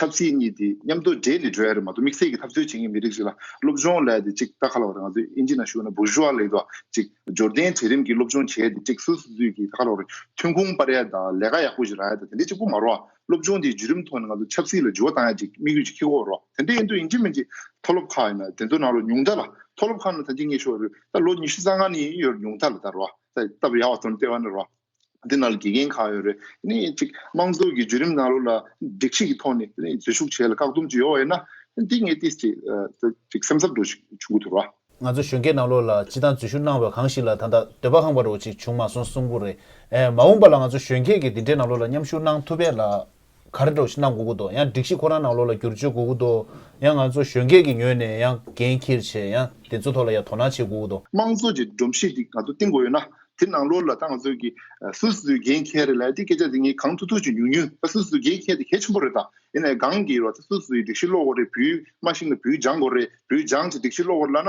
ཆབ་སྲིད་གཉིས་དེ་མཉམ་དུ་འདྲེས་ནས་འགྲོ་ཡ་རེད་མ་གཏོགས་དམིགས་བསལ་གྱི་ཐབས་རྩོད་བྱེད་ངེས་མི་རིགས་ཞིག་ལ་སློབ་སྦྱོང་ལས་དེ་ཅིག་ལྟ་ཁ་ལ་བ་དང་ང་ཚོས་ཨིན་ཇི་ན་བཞུགས་ན་བུར་ཞུ་བ་ལས་དོ་ཅིག་འབྱོར་ལྡན་གྲལ་རིམ་གྱི་སློབ་སྦྱོང་བྱས་དེ་ཅིག་སུད་སུ་ཚུད་ཀྱི་ལྟ་ཁ་ལ་བ་རེད་ཐོན་ཁུངས་སྤར་ཡ་དང་ལས་ཀ་ཡག་པོ་ཞིག་རག་ཡ་དང་དེ་འདྲས་ཅིག་པོ་མ་རོ་སློབ་སྦྱོང་དེའི་བརྒྱུད་རིམ་ཐོག་ནས་ང་ཚོ་ཆབ་སྲིད་ལ་འགྱུར་བ་བཏང་ཡ་ཅིག་དམིགས་ཡུལ་ཅིག་ཁེགས་ཀོ་རོགས་དེ་འདྲས་ཡིན་དུས་ཨིན་ཇི་མན་གྱི་མཐོ་སློབ་ཁག་ཡིན་ན་དེ་ཚོ་ནང་རོ་ཉུང་མཐའ་ལ་མཐོ་སློབ་ཁག་ནང་ད་ཅིག་ངེས་ཤོག་རོད་ད་ལོ་ཉི་ཤུ་རྩ་ལྔ་ནས་ཡིན་ཡོད་རོ་ཉུང་མཐའ་ལ་ད་རོ་ད་ལྟ་བུ་ཡག་བ་དོན་ལྟེ་བ་ནས་རོ། འདི་ནང་ལ་དགེ་རྒན་གང་ཡོད་རེ་ནི་གཅིག་དམངས་གཙོ་གི་བརྒྱུད་རིམ་ནང་ལོགས་ལ་འགྲིག་ཤིག་གི་ཐོག་ནས་འཛུལ་ཞུགས་བྱས་ལ་བཀག་སྡོམ་བྱེད་ཡོད་ཡོད་ན་འདི་ངས་ཏིས་ཅིག་སེམས་འཚབ་འགྲོ་ཞིག་བྱུང་གི་འདུག་ལ། ང་ཚོ་གཞོན་སྐྱེས་ནང་ལོགས་ལ་སྤྱི་བཏང་འཛུལ་ཞུགས་གནང་བའི་གང་ཞིག་ལ་ད་ལྟ་འདོད་པ་ཧང་བ་རོ་ཅིག་བྱུང་མ་སོང་གསུང་གི་རེད། མ་འོངས་པ་ལ་ང་ཚོ་གཞོན་སྐྱེས་ཀྱི་འདི་འདྲའི་ནང་ལོགས་ལ་མཉམ་ཞུགས་གནང་ཐུབ་པས་ལགས། ག་རེ་འགྲོ་ཞེས་གནང་དགོས་ཀྱི་འདུག་ཡང་སྒྲིག་གཞི་ཁོ་རང་ནང་ལོགས་ལ་བསྒྱུར་བཅོས་དགོས་ཀྱི་འདུག་ཡང་ང་ཚོ་གཞོན་སྐྱེས་ཀྱི་ངོས་ནས་ཡང་འགན་འཁྱེར་ཆེད་ཡང་དེ་ཚོའི་ཐོག་ལ་ཡང་དོ་སྣང་བྱེད་དགོས་ཀྱི་འདུག། དམངས་གཙོ་གྱི་སྒྲོམ་གཞི་ཞིག་ང་ཚོ་བཏིང་དགོས་ཡོད་ན་དེ་ནང་ལོགས་ལ་ད་ང་ཚོས་ཀྱི་སུ་སུའི་འགན་འཁྱེར་རེད་ལ་དེ་སྐད་ཆ་དེ་གཉིས་གང་ཐུག་ཐུག་ཅིག་ཉུང་ཉུང་ད་སུ་སུའི་འགན་འཁྱེར་དེ་གལ་ཆེན་པོ་རེད་ད་ཡིན་ནའི་སྒང་གི་རོ་ད་སུ་སུའི་སྒྲིག་གཞི་ལོགས་འོག་རེད་བུའི་མ་ཞིག་ན་བུའི་ལྗང་གོ་རེད་བུའི་ལྗང་གི་སྒྲིག་གཞི་ལོགས་འོག་ལ་ན་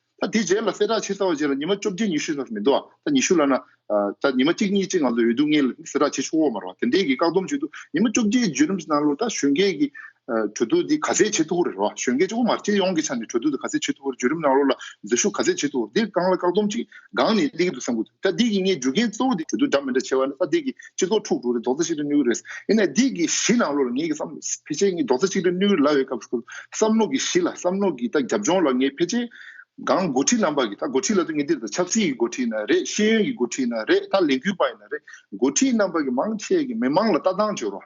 ད་དེ་རྗེས་ལ་གསལ་བསྒྲགས་ཕྱིར་ཚར་བ་བཅས་ལ་ཉི་མ་བཅོ་བརྒྱད་ཉི་ཤུ་ཙམ་ཞིག་མི་འདུག་ཨ། ད་ཉི་ཤུ་ལ་ན། ད་ཉི་མ་གཅིག་གཉིས་བཅས་ང་ཚོ་འོས་བསྡུ་ལྔའི་གསལ་བསྒྲགས་ཕྱིར་ཆུ་འོག་མ་རོ་བ་དེ་འདས་ཀྱི་བཀག་སྡོམ་བྱེད་དུ་ཉི་མ་བཅོ་བརྒྱད་བརྒྱུད་རིམ་གྱི་གནང་ལུགས་ད་གཞོན་སྐྱེས་ཀྱི། གྲོས་བསྡུར་འདི་ག་ཚད་བྱེད་ཐུབ་པོ་རེད་རོ་བ་གཞོན་སྐྱེས་དབུ་མར་ཁྱེད་ཡོངས་ཀྱི་ཆ་ནས་གྲོས་བསྡུར་འདི་ག་ཚད་བྱེད་ཐུབ་པོ་རེད་བརྒྱུད་རིམ་གནང་ལུགས་ལ་འཛུལ་ཞུགས་ག་ཚད་བྱེད་ཐུབ་བོ་འདིར་རྐང་ལ་བཀག་སྡོམ་ཅིག་སྒང་ནས་སླེ་གི་འདུག་བསམ་དགོས། ད་སྡིག་གི་ངའི་རྒྱུ་རྐྱེན་གཙོ་བོ་དེ་གྱོད་དུ་སྒྲ་མི་འདྲ་ཆེ་བ་ནི་ད་སྡིག་གི་སྤྱི་ཚོགས་འཁྲུག་འགྲོ་རེད་རྡོག་རྩ་གཅིག་ཏུ་གནས་གི་རེད། ཡིན་ནའི་སྡིག་གི་གཞི་ནང་ལོགས་ལ་ངའི་བསམ་བློའིཕལ་ཆེར་གཉིས་རྡོག་རྩ་གཅིག་ཏུ་གནས་གི་ལ་བའི་སྐབས་སུ་བསམ་བློ་གི་གཞི་ལ་བསམ་བློ་གི་ད་རྒྱབ་ལྗོངས་ལ་ངའི་ཕལ་ཆེར་གང་འགོ་ཁྲིད་རྣམ་པ་གི་ད་འགོ་ཁྲིད་ལ་ད་ངེས་དེ་ད་ཆབ་སྲིད་ཀྱི་འགོ་ཁྲིད་ན་རེད་ཤེས་ཡོན་གྱི་འགོ་ཁྲིད་ན་རེད་ད་ལས་འགུལ་པ་ཡིན་ན་རེད་འགོ་ཁྲིད་རྣམ་པ་གི་མང་ཆེ་གི་མི་མང་ལ་ལྟ་སྟངས་བྱོལ་བ།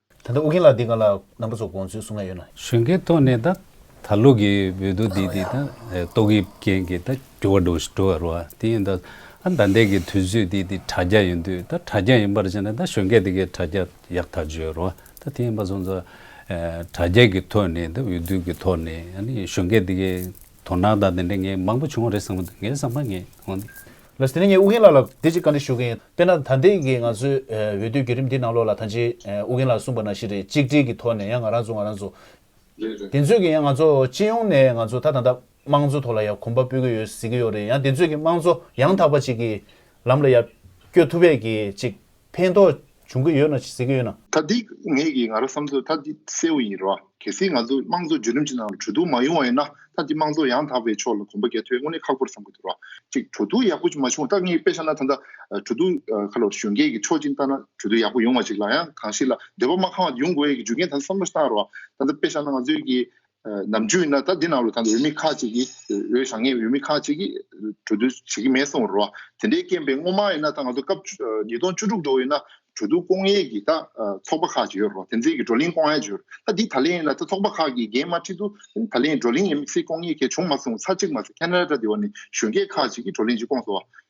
ད་ལྟ་ཨོ་རྒྱན་ལགས་འདི་ག་ལ་རྣམ་པ་ཚོ་དགོངས་ཚུལ་གསུང་ན་ཡོད་ན། གཞོན་སྐྱེས་ཐོག་ནས་ད་ད་ལོ་གི་བོད་དོ་དེ་དེ་ད་ཏོག་དབྱིབས་རྐྱེན་གྱི་ད་འགྱུར་བ་འགྲོ་འགྲོ་བ་རུ་བ་དེ་ཡིན་ད་ཨ་ད་ལྟའི་གི་དུས་ཚོད་དེ་དེ་དྲ་རྒྱ་ཡིན་དུས་ད་དྲ་རྒྱ་ཡིན་པར་བྱས་ན་ད་གཞོན་སྐྱེས་དེ་གའི་དྲ་རྒྱ་ཡག་ཐག་བྱོས་རུ་བ་ད་དེ་ཡིན་པ་སོང་ཙང་དྲ་རྒྱ་གི་ཐོག་ནས་ད་འོས་བསྡུ་གི་ཐོག་ནས་ཨ་ནི་གཞོན་སྐྱེས་དེ་གའི་དོ་སྣང་དང་དེ་འདྲ་ངས་མང་པོ་བྱུང་བ་རེད་བསམ་མོད་ངའི་བསམ་པ་ངས་གོང་དེ། ལ་ཟེར་ནས་ངས་ཨུ་རྒན་ལགས་ལ་དེ་ཅིག་བཀའ་འདྲི་ཞུ་གི་ཡིན། དཔེར་ན་ད་ལྟའི་གི་ང་ཚོའི་འོས་བསྡུའི་བརྒྱུད་རིམ་འདི་ནང་ལོགས་ལ་ད་ཅིག་ཨུ་རྒན་ལགས་གསུངས་པ་ན་ཞིག་རེད་གཅིག་སྒྲིལ་གི་ཐོག་ནས་ཡང་ང་རང་ཚོ་ང་རང་ཚོ། དེ་ཚོས་གི་ཡང་ང་ཚོ་སྤྱི་ཡོངས་ནས་ང་ཚོ་ད་ད་ད་དམངས་གཙོའི་ཐོག་ལ་ཡང་གོམ་པ་སྤོས་གི་ཡོད་ཟེར་གི་ཡོད་རེད་ཡང་དེ་ཚོས་གི་དམངས་གཙོ་ཡང་དག་པ་ཅིག་གི་ལམ་ལ་ཡང་བསྐྱོད་ཐུབ་པས་གི་ཅིག་ཕན་ཐོགས་འབྱུང་གི་ཡོད་ན་ཟེར་གི་ཡོད་ན། ད་འདི་ངེད་ཀྱི་ང་རོ་བསམ་ཚོད་ད་འདི་གསལ་བོ་ཡིན་རོ། གལ་སྲིད་ང་ཚོ་དམངས་གཙོ་བརྒྱུད་རིམ་གྱི་ནང་ལ་གྲོས་བསྡུར་མ་ཡོང་བ་ཡིན་ན་ད་འདི་དམངས་གཙོ་ཡང་དག་པའི་ཕྱོགས་ལ་གོམ་པ་རྒྱ་ཐོའི་དངོས་གནས་ཁག་པོར་བསམ་དགོས་འདུག་རོ། གཅིག་གྲོས་བསྡུར་ཡག་པོ་ཅིག་མ་བྱུང་བར་ད་ངེད་དཔེ་ཆ་ན་ད་ལྟ་གྲོས་བསྡུར་ཁ་ལོ་གཞོན་སྐྱེས་ཀྱི་ཕྱོགས་གཅིག་ལྟ་ན་གྲོས་བསྡུར་ཡག་པོ་ཡོང་བ་ཅིག་ལ་ཡང་གང་ཞིག་ལ་འདོད་པ་མ་ཁང་བ་དེ་ཡོང་དགོས་ཡས་ཀྱི་རྒྱུ་རྐྱེན་ད་ལྟ་བསམ་བློ་བཏང་རོགས། ད་ལྟ་དཔེ་ཆ་ན་ང་ཚོའི་གི་ནམ་རྒྱུན་ན་ད་འདི་ནང་ལོ་ད་འོས་མི་ཁག་ཅིག་གིས་འོས་ཞང་ངས་འོས་མི་ཁག་ཅིག་གིས་གྲོས་བསྡུར་བྱེད་ཀྱི་མེད་གསུངས་རོགས་དེ་འདྲའི་རྐྱེན་པས་སྔོན་མ་ཡིན་ན་ད་ང་ཚོ་སྐབས་ཉིས་སྟོང་བཅུ་དྲུག་འགྲོ་ཡིན་ན་གྲོས་བསྡུར་སྐོང་ཡས་ཀྱི་ད་ཚོགས་པ་ཁག་ཅིག་ཡོད་རོགས་དེ་ཚེ་ཀྱི་བགྲོ་གླེང་སྐོང་ཡས་ཅིག་ཡོད་རོགས་ད་འདི་ད་ལན་ཡིན་ན་ད་ཚོགས་པ་ཁག་གིས་འགན་མ་ཁྲིད་དུ་ད་ལན་བགྲོ་གླེང་ཡས་མི་ཚེ་སྐོང་ཡས་ཁས་བྱུང་མ་གསུངས་ཚར་གཅིག་མ་ཚེ་ཁ་ན་ར་ཏྲ་འདི་བ་ནས་གཞོན་སྐྱེས་ཁག་ཅིག་གིས་བགྲོ་གླེང་ཅིག་སྐོང་སོང་བ་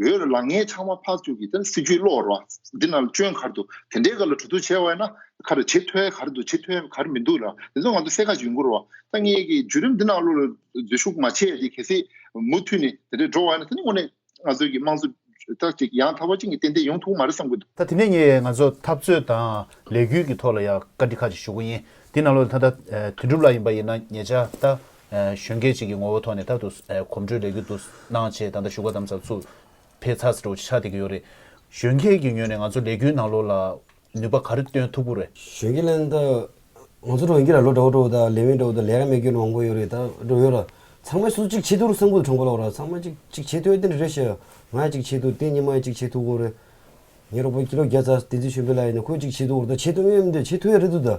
འོས་ལ་ལངས་ངས་ཕྱགས་མ་ཕག་བཙུགས་ཀྱིས་དེར་སྲིད་ཇུས་བློ་བར་བ། འདི་ན་ལ་བཅོན་གར་འདུག་དེ་འདྲའི་སྐབས་ལ་གྲོས་བསྡུར་བྱས་བས་ན། ཁ་རུ་བྱེད་ཐོའི་གར་འདུག་བྱེད་ཐོའི་གར་མི་འདུག་ལ། དེ་ཚོ་ང་ཚོ་གསལ་ཁ་ཞིག་མགུར་བ། ཐ་སྙད་ཀྱི་བརྒྱུད་རིམ་འདི་ནང་བློ་ལ་འཛུལ་ཞུགས་མ་བྱས་ཏེ་གལ་སྲིད། མུ་མཐུད་ནས་དེ་འདྲས་འགྲོ་བ་ཡིན་ན་དེ་ནི་དངོས་གནས་ང་ཚོའི་གི་དམངས་གཙོའི་ལྟ་ཅིག་ཡང་དག་པ་ཅིག་ནི་ཏན་ཏན་ཡོང་ཐུབ་ཀྱི་མ་རེད་བསམ་གྱི་འདུག། ད་དེ་ནས་ངས་ང་ཚོ་འཐབ་རྩོད་དང་ལས་འགུལ་གྱི་ཐོག་ལ་ཡང་བཀའ་འདྲི་ཁ་ཅིག་ཞུ་གི་ཡིན། འདི་ན་ལོ་ད་ལྟ་དོན་གྲུབ་ལགས་ཡིན་པ་ཡིན་ན་ངེད་ཅག་ད། གཞོན་སྐྱེས་གཅིག་གི་ངོ་བོ་ཐོག་ནས་ད་དུ་གོམ་བགྲོད་ལས་རྒྱུ་འདུག་སྣང་བྱས་ད་ལྟ་བཞུགས་སྒར་དམ་ཚགས་ཚུགས་འཕེལ་ཚགས་སུ་འགྲོ་བ་ཆགས་བསྡད་ཀྱི་ཡོད་རེད། གཞོན་སྐྱེས་ཀྱི་ངོས་ནས་ང་ཚོ་ལས་རྒྱུའི་ནང་ལོགས་ལ་ནུས་པ་ག་རེ་བཏོན་ཐུབ་པོ་རེད། གཞོན་སྐྱེས་ལན། ད་ང་ཚོ་འགྲོ་ཡོང་རྒྱུ་ལ་ལོ་དགྲ་བོ་དགྲ་བོ་དང་ལས་མེད་དགྲ་བོ་དང་ལས་ཀ་མེད་སྐྱོན་མང་པོ་ཡོད་རེད་ད་འགྲོ་ཡོང་ར། ཚང་མས་སུ་གཅིག་ཆེད་དུ་རུ་སངས་པོ་དུ་གྲོངས་པོ་ལོག་ར་ཚང་མ་གཅིག་གཅིག་ཆེད་དུ་ཨེ་དེ་འདྲ་རེད་ཤི་ཨ། ང་ཡང་གཅིག་ཆེད་དུ་བསྟན་ཉི་མ་ཡང་གཅིག་ཆེད་དུ་གོ་རེད། ངའི་རོགས་པོ་ཀི་ལོ་བརྒྱ་རྩ་བསྟན་འཛིན་གཞོན་པའི་ལགས་ཡིན་ན་ཁོ་ཡང་གཅིག་ཆེད་དུ་གོ་རེད་ད་ཆེད་དུ་ངའི་མི་འདོད་ཆེད་དུ་ཡ་རེད་འདུག་ད།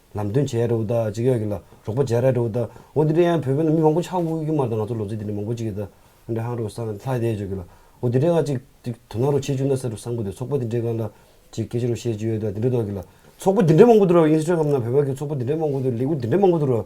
ལམ་སྟོན་བྱས་རེད་འོ་ད་ཅིག་ཡག་གི་ལ་རོགས་པ་བྱས་ར་རེད་འོ་ད་འོ་དེ་འདྲ་ཡང་བོད་པའི་ནང་མི་མང་པོ་ཆགས་འགུག་གི་མ་རེད་ད་ང་ཚོ་ལོ་ཚིགས་དེ་འདྲ་མང་པོ་ཅིག་གི་ད་འོ་འདྲ་ཧང་རོགས་སང་ལྷ་དེ་བྱོས་གི་ལ་འོ་དེ་འདྲ་ཡང་ཅིག་ཅིག་དོ་སྣང་རོགས་བྱེད་བཅུག་ན་ཟེར་རོ་སང་པོ་དེ་ཚོགས་པ་དེ་འདྲའི་སྒང་ལ་ཅིག་སྐད་ཆ་རོགས་བཤད་ཅིག་ཡོད་ད་དེ་འདྲ་འདོག་གི་ལ་ཚོགས་པ་དེ་འདྲ་མང་པོ་འདུག་ར་ཨིན་སི་ཀྲ་རམ་ན་བོད་པ་གི་ཚོགས་པ་དེ་འདྲ་མང་པོ་འདུག་ལས་འགུལ་དེ་འདྲ་མང་པོ་འདུག་ར།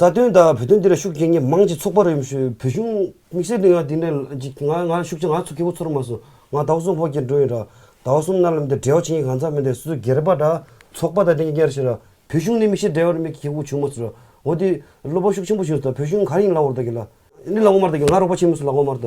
རྩ་དོན་དང་བོད་དོན་འདི་ལ་ཤུགས་རྐྱེན་ངས་མང་ཅིག་ཚོགས་པ་རེད་བོད་གཞུང་དམིགས་བསལ་དེ་ང་དེ་འདྲ་ང་ང་ཤུགས་རྐྱེན་ང་ཚོ་སྐྱེ་བོ་ཚོར་མ་སོང་ང་ཟླ་བ་གསུམ་ཧོར་གྱར་འགྲོ་ཡིན་རང་ཟླ་བ་གསུམ་གནའ་ལམ་དེ་བྲེལ་བ་བྱེད་ཡིན་གང་ཟག་མི་འདེ་སོ་སོ་སྒེར་པ་འདྲ་ཚོགས་པ་དང་དེ་གཉིས་ཀྱར་བྱེད་ར་བོད་གཞུང་ནི་མིག་ཤེལ་འདྲ་བར་མིག་གིས་ཁྱེད་ཀྱི་བོ་བྱུང་མ་སོང་ར་འོ་དེ་སློབ་པ་ཤུགས་ཆེན་པོ་བྱུང་ཟོ་བོད་གཞུང་གང་ཡིན་ལ་འོར་ད་གི་ལ་ནི་ལ་འོ་མར་ད་གི་ང་རོགས་པ་ཆེན་མོ་སུ་ལ་འོ་མར་ད་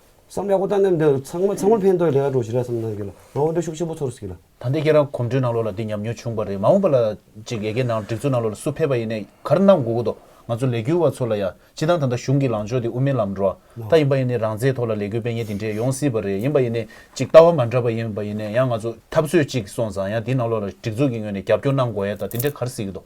བསམ་ཡག་པོ་བཏང་ནས་འདི་ཚང་མ་ཚང་མ་ཕན་ཐོགས་རེ་བ་འགྲོ་ཞེས་རེ་བ་ཙམ་གནང་རྒྱུ་ལ་ང་དབང་གྲོས་ཤུགས་ཆེན་པོ་ཚོར་སྲིད་ལ། ད་ལྟའི་ཁྱེད་རང་གོམ་བགྲོད་ནང་ལོགས་ལ་འདི་ཉམས་མྱོང་བྱུང་བ་རེད་མ་འོངས་པ་ལ་ཅིག་ཡེ་གེ་ནང་སྒྲིག་འཛུགས་ནང་ལོགས་ལ་སུ་ཕེབས་པ་ཡིན་ནས་གར་གནང་དགོས་ཀྱི་འདུག་ང་ཚོ་ལས་འགུལ་བ་ཚོ་ལ་ཡང་སྤྱི་དང་ད་ལྟ་གཞུང་གི་ལངས་ཕྱོགས་དེ་དབུ་མའི་ལམ་འགྲོ་ད་ཡིན་པ་ཡིན་ནས་རང་བཙན་ཐོག་ལ་ལས་འགུལ་སྤེལ་ཉེན་དེ་འདྲས་ཡོང་སྲིད་པ་རེད་ཡིན་པ་ཡིན་ནས་ཅིག་ལྟ་བ་མ་འདྲ་པ་ཡིན་པ་ཡིན་ནས་ཡང་ང་ཚོ་འཐབ་རྩོད་ཅིག་སོང་ཙང་ཡང་འདི་ནང་ལོགས་ལ་སྒྲིག་འཛུགས་ཀྱི་ངོས་ནས་རྒྱབ་སྐྱོར་གནང་དགོས་ཡ་ད་དེ་འདྲས་གར་སྲིད་ཀྱི་འདུག།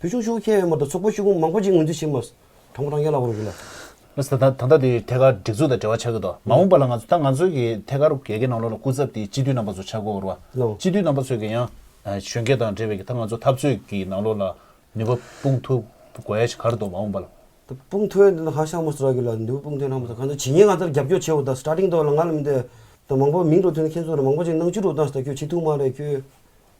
བུ་ཆུང་ཤུགས་ཁྱད་ཡོད་མ་གཏོགས་ཚོགས་པ་ཤུགས་ཁུངས་མང་པོ་ཅིག་ངོས་འཛིན་བྱེད་མ་སོང། དང་པོ་རང་རྒྱལ་ལ་དབང་བསྒྱུར་ལ། མི་སྲིད་དང་ཐོག་མཐའ་དེ་ཐད་ཀར་སྒྲིག་འཛུགས་དང་འབྲེལ་བ་ཆགས་ཀྱི་འདུག་མ་འོངས་པ་ལ་ང་ཚོ་ད་ང་ཚོའི་གི་ཐད་ཀར་རྒྱལ་ཁའི་ནང་ལོགས་ལ་སྐུ་ཚབ་དེ་སྤྱི་འཐུས་རྣམ་པ་ཚོ་ཆགས་དགོས་བར་བ། སྤྱི་འཐུས་རྣམ་པ་ཚོས་གི་ཡང། གཞོན་སྐྱེས་དང་འབྲེལ་བའི་གི་ད་ང་ཚོ་འཐབ་རྩོད་གི་ནང་ལོགས་ལ་ནུས་པ་སྤུངས་ཐུབ་དགོས་ཡ་ཞིག་གར་འདུག་མ་འོངས་པ་ལ། དེ་སྤུངས་ཐོན་དེ་ད་ཧ་ཤང་མ་སུ་ར་གི་ལ་ནུས་པ་སྤུངས་ཐོན་གནང་མ་སོང་ག་ཚོད་ཇི་སྙེད་ང་ཚོར་རྒྱབ་སྐྱོར་བྱས་བ་ད་སི་ཏྲ་ཏིང་ཐོག་ལ་ང་ལ་མི་འདོད། ད་མང་པོ་མིང་ཐོག་ཐོན་མཁན་ཚོ་ལ་མང་པོ་ཅིག་ནང་ཆུ་རུབ་སྟངས་སི་ད་ཁྱོད་སྤྱི་འཐུས་མ་རེད་ཁྱོད།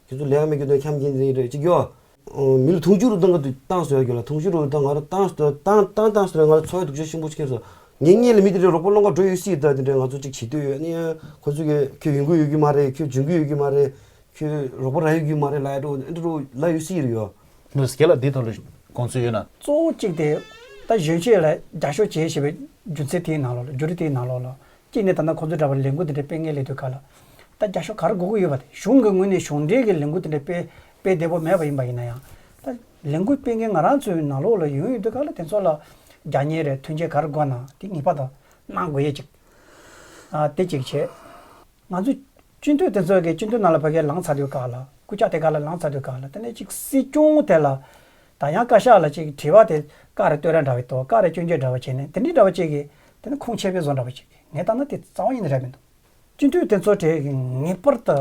ཁྱེད་ཚོ་ལས་ཀ་མེད་རྒྱུ་དང་འཁྱམས་ཀྱིན་རེད་ཅེས་བརྗོད། མི་ལ་དུང་ཕྱུར་རུ་བཏང་གི་ཏང་ཟེར་བ་རྒྱུད་ལ་དུང་ཕྱུར་རུ་བཏང་ང་རང་ཏང་ཟེར་བ་ཏང་ཏང་ཏང་ཟེར་བ་ང་རང་འཚོ་བའི་སྡུག་ཆ་ཆེན་པོ་ཆགས་སོང། ངེད་གཉིས་ལ་མི་དེ་འདྲའི་རོགས་པ་བློ་འགག་འགྲོ་ཡོད་སྲིད་ད་དེ་འདྲའི་ང་ཚོ་ཅིག་བྱེད་འདོད་ཡོད་ནའི་ཁོ་ཚོ་གིས་ཁྱོད་ཡོང་གི་ཡོད་རྒྱུ་མ་རེད་ཁྱོད་འབྱོན་གི་ཡོད་རྒྱུ་མ་རེད་ཁྱོད་རོགས་པ་རག་ཡོད་རྒྱུ་མ་རེད་ལ་ཡོད་དྲུག་ཨེ་འདྲ་རུ་ལ་ཡོད་སྲིད་ཡོད། མོས་ཁྱེད་ལ་འདི་ལྟ་བུའི་དགོངས་ཚུལ་ཡོད་ན། གཙོ་བོ་གཅིག་དེ། ད་གཞོན་སྐྱེས་ལ་རྒྱ་ཤོ་བྱེད་ཞེས་པའི་རྒྱུ་མཚན་དེའི་ནང་ལོགས་ལ་རྒྱུ་རུས་དེའི་ནང་ལོགས་ལ་གཅིག་ནས་ད་ལྟ་ཁོ་ཚོའི་འདྲ་པར་ལས་འགུལ་དེ་འདྲའི་སྤེལ་མཁན་ལས་དོན་ག་ལ་ད་རྒྱ་ཤོག་ག་རུ་འགོ་དགོས་ཡོད་པ་དེ་གཞུང་གི་ངོས་ནས་གཞུང་འབྲེལ་གྱི་ལས་འགུལ་དེ་འདྲ་སྤེལ་སྤེལ་བདེ་བོ་མེད་པ་ཡིན་པ་ཡིན་ན་ཡང་ད་ལས་འགུལ་སྤེལ་མཁན་ང་རང་ཚོའི་ནང་ལོགས་ལ་ཡོང་ཡོད་དུས་ག་ལ་དེ་ཚོ་ལ་རྒྱ་གཉེར་རེ་ཐོན་སྐྱེད་ག་རུ་དགོས་ན་དེ་ངེས་པ་དང་གནང་དགོས་ཡོད་ཅིག་དེ་གཅིག་བྱས། ང་ཚོའི་སྤྱི་འཐུས་དེ་ཚོ་གས་སྤྱི་འཐུས་ནང་ལ་བོད་སྐད་ལངས་ཚར་དུས་ག་ལ་སྐུ་ཕྱག་དེ་ག་ལ་ལངས་ཚར་དུས་ག་ལ་དེ་ནས་གཅིག་སྲིད་སྐྱོང་དེ་ལ་ད་ཡང་བཀའ་ཤག་ལ་གཅིག་དྲི་བ་དེ་བཀའ་རེ་བསྟོད་ར་འདྲ་བའི་དོ་བཀའ་རེ་སྐྱོན་བརྗོད་འདྲ་བ་བྱས་ནས་དེ་འདྲའི་འདྲ་བ་གཅིག་གིས་དེ་ནི་ཁུངས་ཆེ་བའི་བཟོ་འདྲ་བོ་ཞིག་གིས་ངས་བཏང་ན་དེ་རྩ་བ་ཉིད་ནས་རེད་མི་འདུག་སྤྱི་འཐུས་དེ་ཚོ་དེ་ངེས་པར་དུ་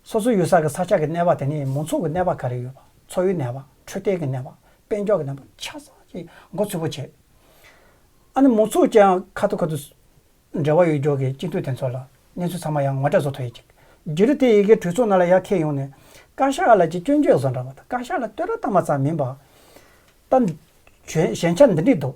སོ་སོའི་ཡུལ་ས་གི་ས་ཆ་གི་གནས་བ་དེ་ནས་མང་ཚོགས་ཀྱི་གནས་བ་ག་རེ་ཡོད་པ་འཚོ་བའི་གནས་བ་འཕྲོད་བསྟེན་གྱི་གནས་བ་དཔལ་འབྱོར་གྱི་གནས་བ་ཆ་ཚང་ཞིག་མགོ་ཚོས་པོ་བྱས་ཨ་ནི་མང་ཚོགས་ཀྱང་ཁ་ཐུག་ཁ་ཐུག་འབྲེལ་བ་ཡོད་རྒྱུ་གིས་སྤྱི་འཐུས་དེ་ཚོ་ལ་གནས་ཚུལ་ཚང་མ་ཡང་ངོ་སྤྲད་བཟོ་ཐུབ་ཡོད་ཅིག་རྒྱུ་རུ་དེ་ཡི་གེ་གྲོས་ཚོགས་ནང་ལ་ཡར་འཁེལ་ཡོང་ནས་བཀའ་ཤག་ལ་ཅིག་སྐྱོན་བརྗོད་བཟོ་འདྲ་བོ་དང་བཀའ་ཤག་ལ་བསྟོད་ར་བཏང་བ་ཙམ་མིན་པ་ད་གཞན་ཆ་འདི་འདྲིས་འདུག་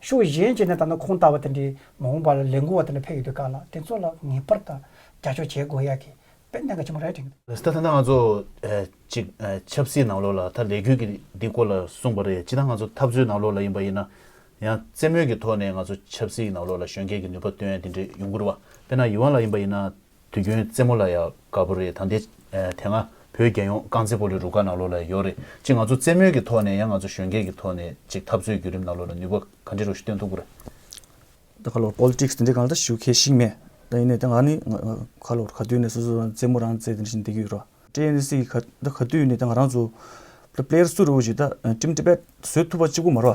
ཤུགས་གཞན་གྱིས་ནི་ད་ནི་ཁོང་ལྟ་བུ་དེ་འདྲའི་མ་འོངས་པ་ལ་ལས་འགུལ་བ་དེ་འདྲ་ཕེབས་ཡོད་པའི་སྐབས་ལ་དེ་ཚོ་ལ་ངེས་པར་དུ་རྒྱབ་སྐྱོར་བྱེད་དགོས་ཡག་གི་དཔལ་ལྡན་ག་ཆེན་མོ་རེད་དྲན། ད་ལྟ་ང་ཚོ་ཅིག་ཆབ་སྲིད་ནང་ལོགས་ལ་ད་ལས་འགུལ་གྱི་འདི་སྐོར་ལ་གསུངས་པ་རེད་ཅི་ད་ང་ཚོ་འཐབ་རྩོད་ནང་ལོགས་ལ་ཡིན་པ་ཡིན་ན་ཡང་རྩེད་མོད་ཀྱི་ཐོག་ནས་ང་ཚོ་ཆབ་སྲིད་ནང་ལོགས་ལ་གཞོན་སྐྱེས་ཀྱི་ནུས་པ་བཏོན་དེ་འདྲའི་ཡུང་གུར་བ་དཔེར་ན་ཡུ་ཝང་ལ་ཡིན་པ་ཡིན་ན། དུས་ཁྱོད་རྩེད་མོ་ལ་ཡག་དགའ་པོ་རེད་ད་འདི། དེ་སྔ་བོད་རྒྱལ་ཡོངས་རྐང་རྩེད་པོ་ལི་རུ་ཀ་ནང་ལོགས་ལ་ཡོད་རེད་ཅེས་ང་ཚོ་རྩེད་མོའི་གི་ཐོག་ནས་ཡང་ང་ཚོ་གཞོན་སྐྱེས་ཀྱི་ཐོག་ནས་ཅིག་འཐབ་རྩོད་བརྒྱུད་རིམ་ནང་ལོགས་ལ་ནུས་པ་ག་འདྲི་རུ་ཤི་སྟོན་ཐུབ་རེད། ད་ག་ལོར Politics དེ་འདྲའི་གང་ལ་ད་ཞུགས་མཁས་ཤིག་མེད། ད་ཡིན་ནའི་ད་ང་ནི་ག་ལོར་ག་དུས་ནས་སོ་སོ་རང་རྩེད་མོ་རང་རྩེད་དེ་འདྲ་ཞིག་འདེགས་གི་ཡོད་རོ། TNC གི་ག་ད་ག་དུས་ནས་ད་ང་རང་ཚོ། Player སུ་རུ་གི་ཞིག་ད Team Tibet བཟོས་ཐུབ་པ་གཅིག་པུ་མ་རོ།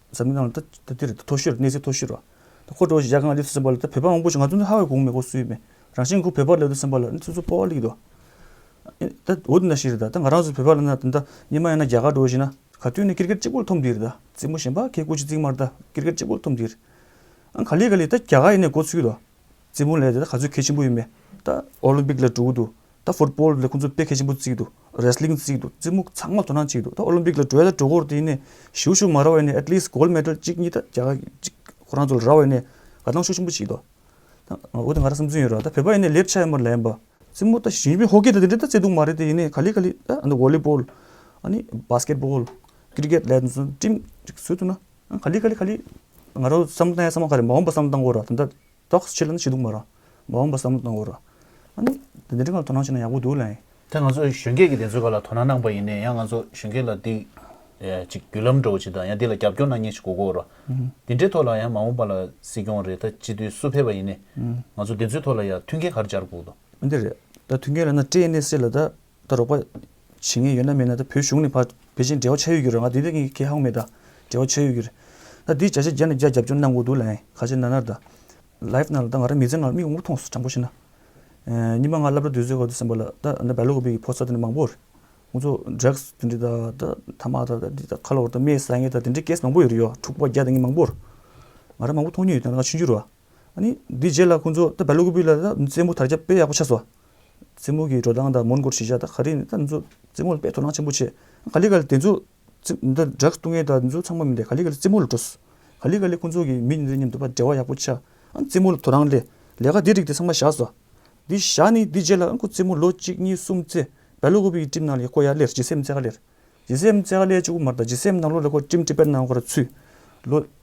འཛམ་གླིང་ནང་ལ་དེ་མཐོ་ཤོས་གནས་ཚད་མཐོ་ཤོས་རེད། ཁོ་འགྲོ་བཞིན་ཡར་ཁང་ལ་སླེབས་སུ་སེམས་པ་ལ་བོད་པ་མང་པོ་ཞིག་ང་ཚོ་འདི་ཧ་བའི་གོང་མེད་སྐོར་སུ་ཡོད་མེད་རང་བཞིན་ཁོ་བོད་པ་ལ་སླེབས་སུ་སེམས་པ་ལ་སོ་སོ་སྤོ་བ་ལེགས་འདུག་ད་འོ་དེ་འདྲ་ཞིག་རེད་ད་ང་རང་སུ་བོད་པ་ལ་ན་དེ་འདྲ་ཉི་མ་ཡང་ན་རྒྱ་གར་འགྲོ་བཞིན་ན་ག་དུས་ནས་ཀིར་ཀེར་གཅིག་པོ་ལ་ཐོབ་འདི་རེད་ད་རྩེད་མོ་གཞན་པ་ཁའི་སྐུ་ཕྱི་རྩིག་མར་ད་ཀིར་ཀེར་གཅིག་པོ་ལ་ཐོབ་འདི་རེད་ཨང་ག་ལེ་ག་ལེ་ད་རྒྱ་གར་ཡིན་ནས་འགོ་ཚུགས་ཡོད་དོ། རྩེད་མོ་ལས་ག་ཚོད་གལ་ཆེན་པོ་ཡོད་མེད་ད། ཨོ་ལིམ་པིག་ལས་གྲོལ་འདུག་ད། ཧྥུ་ཏྤོལ་ལས་ཁོང་ཚོ་དཔེ་གལ་ཆེན་པོ་བརྩིགས་འདུག་རེས་ལིང་བརྩིགས་འདུག་རྩེད་མོ་ཚང་མ་དོ་སྣང་བྱེད་འདུག་ད་ཨོ་ལིམ་པིག་ལ་གྲོལ་ད་གྲོལ་སྐོར་དེ་ཡིན་ནས་ཞུ་ཞུ་མ་ར་བའི་ནས་ཨེཏ་ལིས་གོལ་མེད་ཏེལ་གཅིག་གཉིས་ད་རྒྱ་གཅིག་ཁོ་རང་ཚོ་ལ་ར་བའི་ནས་དགའ་སྣང་ཤུགས་ཆེན་པོ་བྱེད་འདུག་ད། འོ་དེ་ང་ར་སེམས་ཚུན་ཡོད་ར་ད་བོད་པ་ཡིན་ནས་ལེབ་ཆ་ཡོད་མ་ར་ལན་པ། རྩེད་མོ་ད་ཞིང་པའི་ཧོ་ཀེ་ད་དེ་འདྲས་ད་རྩེད་འདུག་མ་རེད་དེ་ཡིན་ནས་ག་ལི་ག་ལི་ད་ཨོ་ལི་པོལ། ཨ་ནི་བྷ་སྐེད་པོལ། ཀིར་ཀེད་ལས་དོན་ཚོ་ཀྲིམ་ཅིག་བཟོས་འདུག་ན། ག་ལི་ག་ལི་ག་ལི། ང་རོ་བསམ་བློ་བཏང་ཡ་བསམ་བློ་ག་རེ་མ་འོངས་པ་བསམ་བློ་བཏང་དགོས་རོགས་དེ་འདྲ་རྟོགས་བྱེད་ལ་ནི་བྱེད་འདུག་མ་རོགས་མ་འོངས་པ་བསམ་བློ་བཏང་དགོས་རོགས་ཨ་ནི་དེ་འདྲ་ངམ་དོ་སྣང་བྱེད་ན་ཡག་པོ་འདུག་ལ་ཡིན། དེ་ང་ཚོ་གཞོན་སྐྱེས་ཀྱི་དེ་ཚོའི་བར་ལ་དོ་སྣང་གནང་པ་ཡིན་ནའི་ཡང་ང་ཚོ་གཞོན་སྐྱེས་ལ་འདི། ཅིག་བརྒྱུད་ལམ་འགྲོ་བ་ཅིག་དང་ཡང་འདི་ལ་རྒྱབ་སྐྱོར་གནང་མཁན་ཞིག་དགོས་དགོས་རོགས་དེ་འདྲའི་ཐོག་ལ་ཡང་མ་འོངས་པ་ལ་སྲིད་སྐྱོང་རེད་ད་སྤྱི་འཐུས་སུ་ཕེབས་པ་ཡིན་ནའི་ང་ཚོ་དེ་ཚོའི་ཐོག་ལ་ཡང་མཐུན་རྐྱེན་ག་རེ་སྦྱར་དགོས་དགོས། འདི་རེད་ད་མཐུན་རྐྱེན་ལ་ན་སྤྲད་ནས་སྲིད་ལ་ད་ད་རོགས་པ། བྱེད་ངེས་ཡོད་ན་མེད་ན་ད་བོད་གཞུང་ནས་བར་བེ་ཅིང་འབྲེལ་བ་ཆགས་ཡོད་རྒྱུ་རེད་ང་དེ་འདྲའི་ཁེ་ཧང་མེད་ད་འབྲེལ་བ་ཆགས་ཡོད་རྒྱུ་རེད། ད་དེའི་བྱ་བྱེད་རྒྱ་ནས་རྒྱ་རྒྱབ་སྐྱོར་གནང་དགོས་འདུག་ལན། ག་ཅེ་ན་ནར་ད། Live ནང་ལ་ད་ང་རང་མི་ཚེ་ནང་ལ་མིག་དབང་པོ་ཐོངས་སོ་དྲང་པོ་བཤད་ན། ཉི་མ་ང་བསླབ་གྲྭ་དུས་ཚོད་ཁག་ཏུ་སེམས་པ་ལ་ད་ད་བལ་ལོ་གོ་བེ་གི་ཕོ་གསར་དེ་འདྲ་མང་པོར། ཁོང་ཚོ Drugs དེ་འདྲའི་ད་ད་ཐ་མག་ད་ད་འདི་ད་ཁ་ལོ་བ་ད་རྨའི་ཟ་ངེ་ད་དེ་འདྲའི Case མང་པོ་ཡོད་རེད་ཡོད་འཁྲུག་པ་བརྒྱ་ད་ངེ་མང་པོར། ང་རང་མང་པོ་མཐོང་མྱོང་ཡོད་ད་ང་ཕྱི་འགྱུར་བ། ཨཱ་ནི་དེའི་རྗེས་ལ་ཁོང་ཚོ་ད་བལ་ལོ་གོ་བེ་ལ་ད་མི་ཚེ་མོ་དར་རྒྱ་དཔེ་ཡག་པོ་ཆགས་སོ། རྩེད་མོ་གི་འགྲོ་སྟངས་དང་མོན་གྷོར་གཞིས་ཆགས་དང་ག་རེ་འདི་ཚོ་རྩེད་མོ་ལ་དཔེ་དོ་སྣང་ཆེན་པོ་བྱེད། ག་ལི་ག་ལི་དེ་ཚོ་འདི་སྦྲགས་ལྟུང་བསྔལ་དང་འདི་ཚོ་ཚང་མ་མི་འདེད་ག་ལི་ག་ལི་རྩེད་མོ་ལ་འགྲོ། ག་ལི་ག་ལི་ཁོ་ཚོ་གིས་མི་འདི་ཚོའི་མཉམ་དུ་འབྲེལ་བ་ཡག་པོ་བྱ། རྩེད་མོ་ལ་དོ་སྣང་སླེབས། ལས་ཀ་འདི་རིགས་དེ་ཚང་མ་བཞག་བཟོ། འདི་བཞག་ནས་འདི་རྗེས་ལ་ཁོ་རྩེད་མོ་ལོ་གཅིག་གཉིས་གསུམ་རྩེ། བལ་ལོ་ཁོ་བོས་ཀྱི་གྲིབ་ནང་ལས་ཁོ་ཡར་སླེར་ཇི་སེམས་རྩེ་ག་ལེར། ཇི་སེམས་རྩེ་ག་ལེ་ཅུ་གུ་མར་དང་ཇི་སེམས་ནང་ལོ་ལས་ཁོ་གྲིམ་གྲིབ་པད་སྣང་ག་ར་ཚུད། ལོ།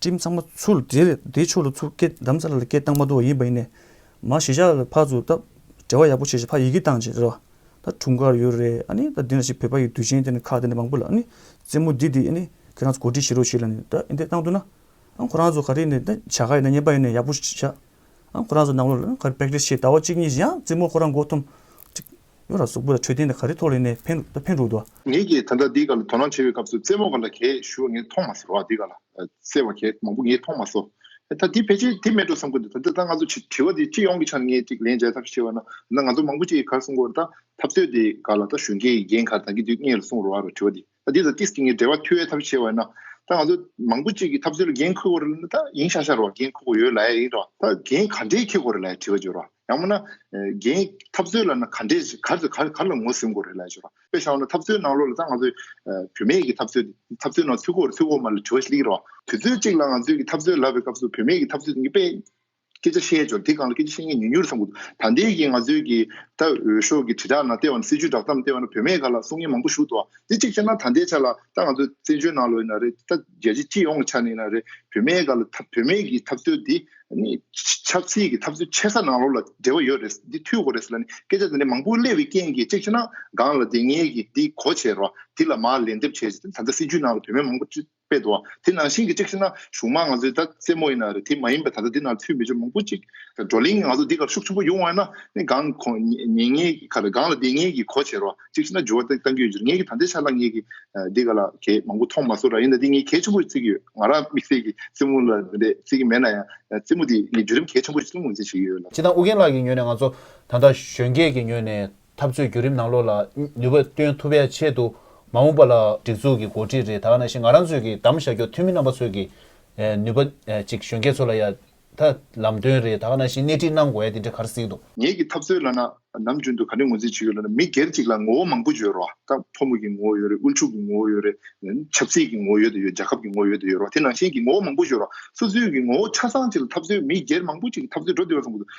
སྤྲིན་ཚང་མ་ཆུ་ལ་དེད། དེ་ཆུ་ལ་ཆུ་སྐྱེས་འདམ་རྩྭ་ལ་སྐྱེས་སྟག་མ་རྡོ་ཡིན་པ་ཡིན། མ་གཞི་ཞག་ལ་ཕག་ཚུགས་སྟབས། བྲེལ་བ་ཡག་པོ་བྱེད་ཞེས་ཕག་ཡི་གེ་བཏང་བྱས་རེད། ད་དྲུང་དཀར་ཡོད་རེད་ཨ་ནི། ད་འདི་འདྲ་ཞིག་བོད་པ་ཡི་དུས་ཆེན་དེ་ནི་ཁག་དེ་འདྲ་མང་པོ་ལ་ཨ་ནི། རྩེད་མོ་འདི་འདི་ཨ་ནི། ཁྱེད་རང་ཚོ་གོ་སྒྲིག་བྱེད་རོགས་བྱས་ལ་ནི་ད་འདི་བཏང་འདུག་ན། ཨ་ཁོ་རང་ཚོ་ག་རེ་ནི་ད་བྱ་དགའ་ཡིན་ན་ཉན་པ་ཡིན་ན་ཡག་པོ་བྱ། ཨ་ཁོ་རང་ཚོ་ནང་ལོགས་ལ་ཨ་ནི་ག་རེ practice བྱས་ཟླ་བ་གཅིག་གཉིས་བཞིན་ཡང་རྩེད་མོ་ཁོ་རང་མགོ་འཐོམས། ཡོད་ར་སུག་པོ་ལ་ཆོས་ལྡན་དེ་ག་རེ་ཐོག་ལེན་ནས་ཕན་ད་ཕན་འགྲོ་དོ། ངེད་ཀྱིས་ད་ལྟ་འདི་ག་ལ་དོ་སྣང་བྱེད་པའི་སྐབས་སུ་རྩེད་མོ་ག་ལ་གས་ཞུ་བ་ངས་མཐོང་མ་སོ་འདི་ག་ལ་རྩེ་བ་གས་མང་པོ་ངས་མཐོང་མ་སོ། ད་དེ་ཕལ་ཆེར་དེ་མེད་འགྲོ་བསམ་གི་འདུག་ད་འདི་ལྟ་ང་ཚོ་བྱི་བྱིས་བ་འདི་སྤྱི་ཡོངས་ཀྱི་ཆ་ནས་ངས་ཅིག་ལན་འཇལ་ཐབས་ཤེས་བ་ན་ད་ང་ཚོ་མང་པོ་ཅིག་གིས་གར་སོང་གོ་ར་ད་ཐབས་རྩོད་དེ་ག་ལ་ད་གཞོན་སྐྱེས་ཀྱི་རྒན་གར་ད་གི་འདི་གཉེར་ལ་སོང་རོ་ཨ་ར་བྱི་བ་འདི་ད་འདི་དང་ཏིས་ཀྱི་ངའི་འབྲེལ་བ་འཐུས་བའི་ཐབས་བྱས་བས་ན། ད་ང་ཚོ་མང་པོ་གཅིག་གི་ཐབས་ཚུལ་འགན་འཁུར་བར་ན་ད་ཡིན་ཤག་ཤག་རོགས་འགན་འཁུར་དགོས་ཡོད་ལ་ཡ་ཡིན་རོགས་ད་འགན་ག་འདྲའི་འཁེལ་དགོས་རེད་ལ་ཡ་དྲི་བ་བྱོས་རོགས་ཡང་མོ་ན། འགན་ཐབས་ཚུལ་ལ་ན་ག་འདྲའི་ག་རེ་ག་ག་ལ་ངོ་ཟིན་དགོས་རེད་ལ་ཡ་བྱོས་རོགས་དཔེ་བཞག་ན་ཐབས་ཚུལ་ནང་ལོགས་ལ་ད་ང་ཚོ། བུད་མེད་ཀྱི་ཐབས་ཚུལ་ཐབས་ཚུལ་ནང་ཚུད་དགོས་རེད་ཚུད་དགོས་མ་རེད་ལ་དྲི་བ་ཞིག་ལེགས་རོགས་དུས་ཚོད་གཅིག་ལ་ང་ཚོའི་གི་ཐབས་ཚུལ་ལབ་པའི་སྐབས་སུ་བུད་མེད་ཀྱི་ཐབས་ཚུལ་དེ་ནི་དཔེ། སྐད་ཆ་བཤད་ཆོག་དེ་གང་ལ་སྐད་ཆ་བཤད་མཁན་ཉུང་ཉུང་རེད་བསམ་དགོས་འདུག་ད་ལྟའི་གི་ང་ཚོའི་གི་ད་འོས་ཤོག་གི་དྲིལ་བསྒྲགས་ནང་ལྟས་བ་ན་སྲིད་ཇུས་བསྒྲགས་གཏམ་ལྟས་བ་ན་བོད་མའི་ག་ལ་གསུང་ངན་མང་པོ་ཞུ་འདུག་བ་དེ་གཅིག་བྱས་ན་ད་ལྟའི་ཆ་ལ་ད་ང་ཚོ་བཙན་བྱོལ་ནང་ལོ་ཡིན་ན་རེ་ད་རྒྱལ་སྤྱི་སྤྱི་ཡོངས་ཀྱི་ཆ་ནས་ཡིན་ན་རེ་བོད་མའི་ག་ལ་ཐབས་བོད་མའི་གི་ཐབས་རྩོད་དེ་ནི་ཆབ་སྲིད་གི་ཐབས་རྩོད་ཆེ་ས་ནང་ལོགས་ལ་འབྲེལ་བ་ཡོད་རེད་འདི་འཐུས་གོ་རེད་ལ་ནི་སྐད་ཆ་དེ་འདྲ་མང་པོ་གླེ་བའི་རྐྱེན་གི་གཅིག་བྱས་ན་སྒང་ལ་དེ་ངས་གི་འདི་གོ་བྱས་རོགས་དེ་ལ་མ་ལན་འདེབས་བྱས་ད་ལྟ་སྲིད་ཇུས་ནང་ལ་བོད་མའི་མང་པོ་སྤྱི་པའི་དོ། དེ་ནང་བཞིན་གྱི་གཅིག་ཤི་ན་གཞུང་མ་ང་ཚོའི་ད་རྩེད་མོ་ཡིན་ན་རེད་དེ་མ་ཡིན་པའི་ད་ལྟ་འདི་ན་ཚུལ་མི་ཆོས་མང་པོ་གཅིག་བགྲོ་གླེང་ང་ཚོ་འདི་གར་ཤུགས་ཆེན་པོ་ཡོང་བ་ཡིན་ན་གང་གོ་ཉན་ངེས་ཀྱི་ཁར་གང་ལ་བདེན་ངེས་ཀྱི་གོ་བྱེད་རོགས་གཅིག་ཤི་ན་འགྱུར་བ་ཏན་ཏན་ཡོད་ཅེས་ངེད་ཀྱི་ད་ལྟའི་ཆ་ལ་ངེད་ཀྱི་འདི་ག་ལ་གས་མང་པོ་མཐོང་མ་སོང་ར་ཡིན་ན་འདི་ངས་གས་ཆེན་པོ་བརྩི་གི་ཡོད་ང་རང་དམིགས་བསལ་གྱི་རྩེད་མོ་ལ་རེད་བརྩི་གི་མེད་ན་ཡང་རྩེད་མོ་འདི་ངས་བརྒྱུད་རིམ་གས་ཆེན་པོ་ཞིག་བསླུ་ངོས་འཛིན་བྱེད་ཀྱི་ཡོད་ལ། སྤྱི་དང་ཨུ་རྒྱན་ལགས་ཀྱི་ངོས་ནས་ང་ཚོ་ད་ལྟ་གཞོན་སྐྱེས་ཀྱི་ངོས་ནས་འཐབ་རྩོད་བརྒྱུད་རིམ་ནང་ལོགས་ལ་ནུས་པ་བཏོན་ཐུབ་པའི་ཆེད་དུ་མ་འོངས་པ་ལ་སྒྲིག་འཛུགས་ཀྱི་འགོ་ཁྲིད་རེ་ད་ག་ན་ཞིག་ང་རང་ཚོས་ཀྱིས་གདམ་བྱ་རྒྱོ་ཐོན་མི་རྣམ་པ་ཚོས་ཀྱིས་ནུས་པ་ཅིག་གཞོན་སྐྱེས་ཚོ་ལ་ཡ་ད་ལམ་སྟོན་རེ་ད་ག་ན་ཞིག་སྣེ་ཁྲིད་གནང་དགོས་ཡ་དེ་འདྲ་ག་རེ་སྲིད་དོ། ངེད་ཀྱི་འཐབ་རྩོད་ལ་ན་ནམ་རྒྱུན་དུ་ག་རེ་ངོས་འཛིན་བྱེད་ཡོད་ལ་ན་མི་སྒེར་ཅིག་ལ་ངོ་བོ་མང་པོ་བརྗོད་རོགས་ཨ་ད་ཕོ་མོ་གྱི་ངོ་བོ་ཡོད་རེད་དབུལ་ཕྱུག་གི་ངོ་བོ་ཡོད་རེད་ཆབ་སྲིད་ཀྱི་ངོ་བོ་ཡོད་དོ་ཡོད་རྒྱལ་ཁབ་ཀྱི་ངོ་བོ་ཡོད་དོ་ཡོད་རོགས་དེ་ནང་བཞིན་གྱི་ངོ་བོ་མང་པོ་བརྗོད་རོགས་སོ་སོའི་གྱི་ངོ་བོ་ཆ་ཚང་ཅིག་ལ་འཐབ་རྩོད་མི་སྒེར་མང་པོ་ཅིག་གི་འཐབ་རྩོད་འགྲོ་བདེ་བ་བཟུང་དགོས་དོ།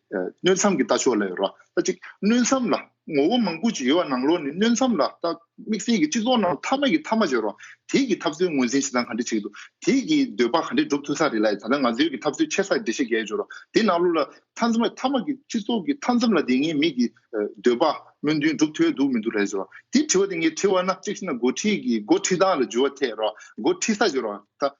སྣོད་མཚམས་ཀྱི་ལྟ་ཕྱོགས་ལ་ཡོད་རོགས་ཟླ་གཅིག་སྣོད་མཚམས་ལ་ངོ་བོ་མང་པོ་ཅིག་ཡོད་བ་ནང་ལོགས་ནས་སྣོད་མཚམས་ལ་ལྟ་དམིགས་བསལ་གྱི་སྤྱི་ཚོགས་ནང་མཐའ་མ་གི་མཐའ་མ་བྱོས་རོགས་དེས་ཀྱི་ཐབས་སྲོལ་ངོས་འཛིན་བྱེད་སྟངས་ག་འདྲི་བྱེད་ཀྱི་འདུག་དེས་ཀྱི་འདོད་པ་ག་འདྲི་སྒྲུབ་ཐུབ་ས་རེད་ལ་ད་ལྟ་ང་ཚོའི་ཀྱི་ཐབས་སྲོལ་ཆེ་སར་འགྲེལ་བཤད་རྒྱས་བྱོས་རོགས་དེས་ནང་ལོགས་ལ་མཐའ་མཚམས་མཐའ་མ་གི་སྤྱི་ཚོགས་ཀྱི་མཐའ་མཚམས་ལ་དེ་ངའི་མིག་གི་འདོད་པ་སྨོན་འདུན་སྒྲུབ་ཐོས་འདུག་མི་འདུག་རེད་བྱོས་རོགས་དེས་དྲི་བ་དེ་ངས་དྲི་བ་ན་གཅིག་ཤི་ན་འགོ་ཁྲིད་ཀྱི་འགོ་ཁྲིད་སྟངས་ལ་འཇུ་བ་ཐད་རོགས་འགོ་ཁྲིད་ས་བྱོས་རོགས་ཟླ།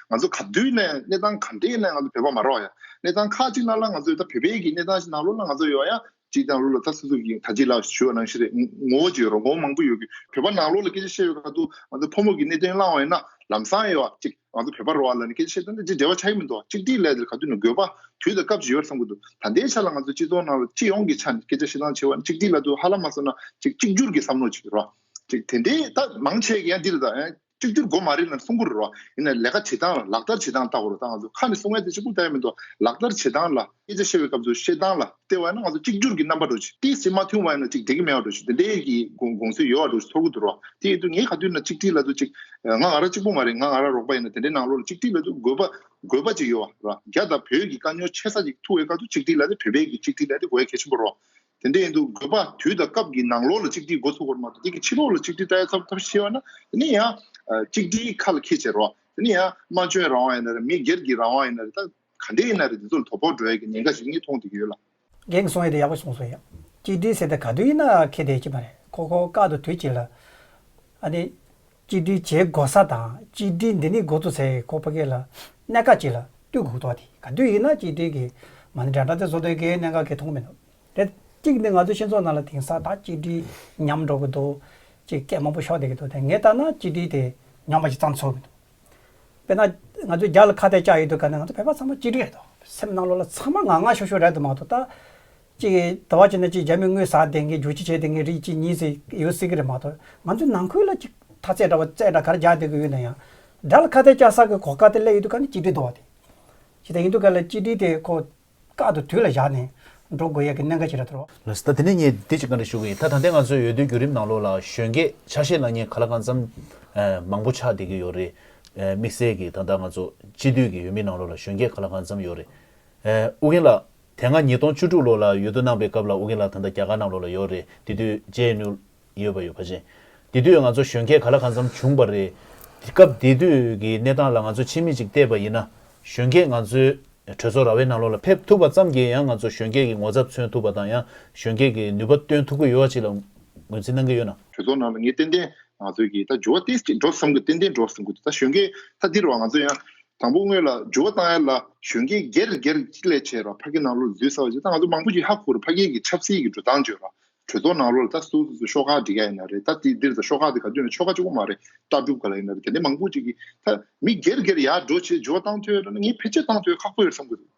ང་ཚོ་ག་དུས་ནས་གནས་སྟངས་ག་འདྲས་ནས་ང་ཚོ་བོད་པ་མ་རོགས་ཡ་གནས་སྟངས་ཁག་ཅིག་ན་ལ་ང་ཚོ་ད་བོད་པའི་གི་གནས་སྟངས་ཤིག་ན་ལོ་ལ་ང་ཚོ་ཡོ་ཡ་ཅིག་དང་ལོ་ལ་ད་སུ་སུ་གི་ད་ཅིག་ལ་ཞུ་བ་ནང་ཤི་རེད་ངོ་བོ་ཅིག་ཡོ་རོ་ངོ་བོ་མང་པོ་ཡོ་གི་བོད་པ་ན་ལོ་ལ་སྐད་ཆ་བཤད་ཡོ་ག་དུ་ང་ཚོ་ཕོ་མོ་གི་གནས་དོན་བླང་བ་ཡོ་ན་ལམ་སང་ཡོ་ཅིག་ང་ཚོ་བོད་པ་རོགས་ལ་ནི་སྐད་ཆ་བཤད་དོན་ད་ཅིག་འབྲེལ་བ་ཆ་གི་མི་འདུག་ཅིག་སྒྲིག་ལས་དེ་ག་དུས་ནས་དགོས་པ་དུས་དང་སྐབས་ཅིག་ཡོ་བསམ་གི་འདུག་ད་ལྟའི་ཆ་ལ་ང་ཚོ་སྤྱི་ཚོགས་ནང་ལ་སྤྱི་ཡོངས་ཀྱི་ཆ་ནས་སྐད་ཆ་བཤད་སྟངས་བྱེད་པ་ནི་ཅིག་སྒྲིག་ལ་དུ་ཧ་ལམ་མ་བསམ་ན་ཅིག་གཅིག་གྱུར་གི་བསམ་བློ་ཅིག་རོ་ཅིག་དེ་འདྲས་ད་མང་ཆེ་གི་ཡ་འདི་རེད་ད། གཅིག་གྱུར་སྒོ་མ་རེད་ན་སྲུང་འཁོར་རོ། ཡིན་ན་ལས་ཀ་བྱེད་སྟངས་ལ་ལག་བསྟར་བྱེད་སྟངས་ལྟ་གོ་རོ་ད་ང་ཚོ་ཁ་ནས་སྲུང་བའི་དེ་ཆུ་ཁུག་ལྟ་ཡ་མི་འདུག་ལག་བསྟར་བྱེད་སྟངས་ལ་སྐད་ཆ་བཤད་པའི་སྐབས་སུ་བཤད་སྟངས་ལ་ལྟེ་བ་ན་ང་ཚོ་གཅིག་གྱུར་གྱི་རྣམ་པ་འགྲོ་ཆེད་དེ་སེམས་མ་མཐུན་བ་ཡིན་ན་གཅིག་བསྡད་ཀྱི་མེད་བ་འགྲོ་ཆེད་དེ་འདྲའི་གི་དགོངས་ཚུལ་ཡོད་བ་འགྲོ་ཆེད་ཐོར་གུ་འདུག་རོགས་དེ་ཡིན་དུས་ངས་ག་དུས་ན་གཅིག་སྒྲིལ་ལ་དུས་གཅིག་ང་ང་ར་གཅིག་པོ་མ་རེད་ང་ང་ར་རོགས་པ་ཡིན་ན་དེ་འདྲའི་ནང་ལོགས་ལ་གཅིག་སྒྲིལ་ལ་དུས་དགོས་པ་དགོས་པ་ཅིག་ཡོད་བ་ར་རྒྱ་དང་བོད་ཀྱི་དཀའ་རྙོག་ཆེ་ས་ཅིག་ཐུག་བའི་སྐབས་སུ་གཅིག་སྒྲིལ་ལ་དེ་བོད་པའི་གི་གཅིག་སྒྲིལ་ལ་དེ་དགོས་གལ་ཆེན་པོ་རོགས་དེ་འདྲ་ཡིན་དུས་དགོས་པ་དུས་དང་སྐབས་ཀྱི་ནང་ལོགས་ལ་གཅིག་སྒྲིལ་འགོ་ཚུགས་པར་མ་གཏོགས་དེ་གི་ཕྱི་ལོགས་ལ་གཅིག་སྒྲིལ་བལྟ་ཡ་ཐབས་ཤེས་པ་ན་དེ་ནི་ཡང་གཅིག་སྒྲིལ་ཁ་ལ་ཁད་བྱེད་རོགས། དེ་ནི་ཡང་སྨྲ་བརྗོད་རང་དབང་ཡིན་ན་རེད་མི་སྒེར་གྱི་རང་དབང་ཡིན་ན་རེད་ད་ག་འདྲས་ཡིན་ན་རེད་དེ་ཚོ་ལ་དོ་ཕོག་འགྲོ་ཡ་གི་ཉེན་ཁ་ཞིག་གཉིས་མཐོང་བསྡད་ཀྱི་ཡོད་ལ། རྒན་གསུངས་ཡོད་དེ་ཡག་པོ་གསུངས་སོང་ཡ། གཅིག་སྒྲིལ་ཟེར་ད་ག་དུས་ཡིན་ན་ཁད་བསྡད་ཀྱི་མ་རེད་ཁོ་ཁོ་བཀག་འདུག་དུས་གཅིག་ལ། ཨ་ནི། གཅིག་སྒྲིལ་བྱེད་དགོ་ས་དང་གཅིག་སྒྲིལ་འདི་ནི་འགོ་གཙོ་ཚའི་ཁོ་པ་གས་ལ་གནད་འགག་ཅིག་ལ་བཏུད་འགོ་གཏོགས་དེ་ག་དུས་ཡིན་ན་གཅིག་སྒྲིལ་གི་མ་ནི་དྲ་གྲ་ཚའི་བཟོ་དོན་གས་གནད་འགག་གས་མཐོང་མི་འདུག་རེད་གཅིག་ནི་ང་ཚོའི་ཤེས་ཚོགས་ནང་ལ་དེང་སང་ད་གཅིག་སྒྲིལ་ཉམས་འགྲོ་གི་འདུག་ཅིག་སྐད་མང་པོ་ཤོག་བསྡད་ཀྱི་འདུག་དེ་ངས་ལྟ་ན་གཅིག་སྒྲིལ་དེ་ཉམས་པ་ཅིག་བརྩམས་ཚོར་མི་འདུག་དཔེར་ན་ང་ཚོའི་རྒྱ་ལ་ཁ་གཏད་བཅག་ཡོད་འདུག་ག་ནས་ང་ཚོ་བོད་པ་ཚང་མ་གཅིག་སྒྲིལ་རེད་འདུག་སེམས་ནང་ལོག་ལ་ཚང་མ་ང་ང་ཤོ་ཤོ་རེད་འདུག་མ་གཏོགས་ད་གཅིག་གིས་དྲ་བ་བྱས་ན་གཅིག་རྒྱ་མི་དངུལ་ཟ་བསྡད་མཁན་རྒྱུག་ཁྱི་བྱས་བསྡད་མཁན་རིགས་གཅིག་གཉིས་ཟིག་ཡོད་སྲིད་ཀྱི་རེད་མ་གཏོགས་ང་ཚོའི་ནང་ཁུལ་ལ་གཅིག་མཐའ་ཚད་འདྲ་བ་རྩེ་འདྲ་གར་རྒྱག་བསྡད་དགོས་ཡོད་ན་ཡང། དགྲ་ལ་ཁ་གཏད་བཅག་ས་གི་གོ་སྐབས་དེ་སླད་ཡུལ་དུ་ཁ་ནས་གཅིག་སྒྲིལ་འདོར་བ་དེ། ཇི་ལྟར་ཡིན་དུས་ཁ་ལ་གཅིག་སྒྲིལ་དེ་ཁོ་བཀག་ཏུ་དུས་ལ་བཞག་ནས་འགྲོ་དགོས་ཡས་ཀྱི་གནད་འགག་ཞིག་རེད་དོ། ལ་ཟླ་དེ་ནས་ངས་འདི་གཅིག་ག་རེ་ཞུ་གི་ཡིན་ད་ད་ལྟའི་ང་ཚོའི་ཡོད་དོའི་བརྒྱུད་རིམ་ནང་ལོགས་ལ་གཞོན་སྐྱེས་ཆ་ཤས་ལ་ངས་ག་ལ་གང་འཚམ་མང་པོ་ཆགས་བསྡད་ཀྱི་ཡོད་རེད། དམིགས་བསལ་གྱིས་ད་ལྟ་ང་ཚོ་སྤྱི་འཐུས་ཀྱི་ཡུལ་མི་ནང་ལོགས་ལ་གཞོན་སྐྱེས་ག་ལ་གང་འཚམ་ཡོད་རེད། ཨུ་རྒྱན་ལགས། དེ་སྔ་ཉིས་སྟོང་བཅུ་དྲུག་ལོ་ལ་ཡུལ་དུ་གནང་པའི་སྐབས་ལ་འུ་གེ་ལགས་ད་ལྟ་རྒྱ་གར་ནང་ལོགས་ལ་ཡོད་རེད་དེ་དུས་རྗེས་སྣུར་ཡོད་པ་ཡོད་པ་རེད། དེ་དུས་ང་ཚོ་གཞོན་སྐྱེས་ག་ལ་གང་འཚམས་བྱུང་པ་རེད། སྐབས་དེ་དུས་ཀྱི་གནས་སྟངས་ལ་ང་ཚོས་ཕྱི་མིག་ཅིག་བལྟས་པ་ཡིན་ན། གཞོན་སྐྱེས་ང་ཚོའི་གྲོས་ཚོགས་ར་བའི་ནང་ལོགས་ལ་ཕེབས་ཐུབ་པ་ཙམ་གྱིས་ཡང་ང་ཚོ་གཞོན་སྐྱེས་ཀྱི་ངོ་ཚབ་མཚོན་ཐུབ་པ་དང་ཡང་གཞོན་སྐྱེས་ཀྱི་ནུས་པ་བཏོན་ཐུབ་ཀྱི་ཡོད་པ་ཅིག་ལ་ངོས་འཛིན་གནང་གི་ཡོད་ན། གྲོས་ཚོགས་ནང་ལ་ངས་ཏན་ཏན་ང་ཚོའི་གི་ད་འགྱུར་བ་ཏན་ཏན་འགྲོ་བསམ་གི་ཏན་ཏན་འགྲོ་བསམ་གི་འདུག་ད་གཞོན་སྐྱེས་ད་འདི་རུ་བ་ང་ཚོ་ཡང་དང་པོ་དངོས་ལ་སྦྱོར་བ་བཏང་ཡར་ལ་གཞོན་སྐྱེས་སྒེར་སྒེར་གཅིག་ལས་བྱེད་པ་ཕ་སྐད་ནང་ལོ་ལ་འཛུལ་ས་བ་ཞིག་ད་ང་ཚོ་མང་པོ་ཞིག་ཧ་གོ་རུ་ཕ་སྐད་ཀྱི་ཆབ་སྲིད་ཀྱི་འགྲོ་སྟངས་བརྗོད་པ་གྲོས་ཚོགས་ནང་ལོ་ལ་ད་སུ་སུ་ཤོག་ཁག་འབྲི་ག་ཡིན་ན་རེད་ད་འདིར་ད་ཤོག་ཁག་དེ་ག་དུས་ན་ཆོལ་ཁ་གཅིག་པོ་མ་རེད་ལྟ་སྒྲུབ་ག་ལ་ཡིན་ན་རེད་དེ་འདྲ་མང་པོ་ཅིག་གིས་ད་མི་སྒེར་སྒེར་ཡར་འགྲོ་བྱེད་སྦྱོར་བ་བཏང་ཐོས་ངས་ཕལ་ཆེར་བཏང་ཐོས་ཁག་པོ་ཡོད་བསམ་གྱི་འདུག།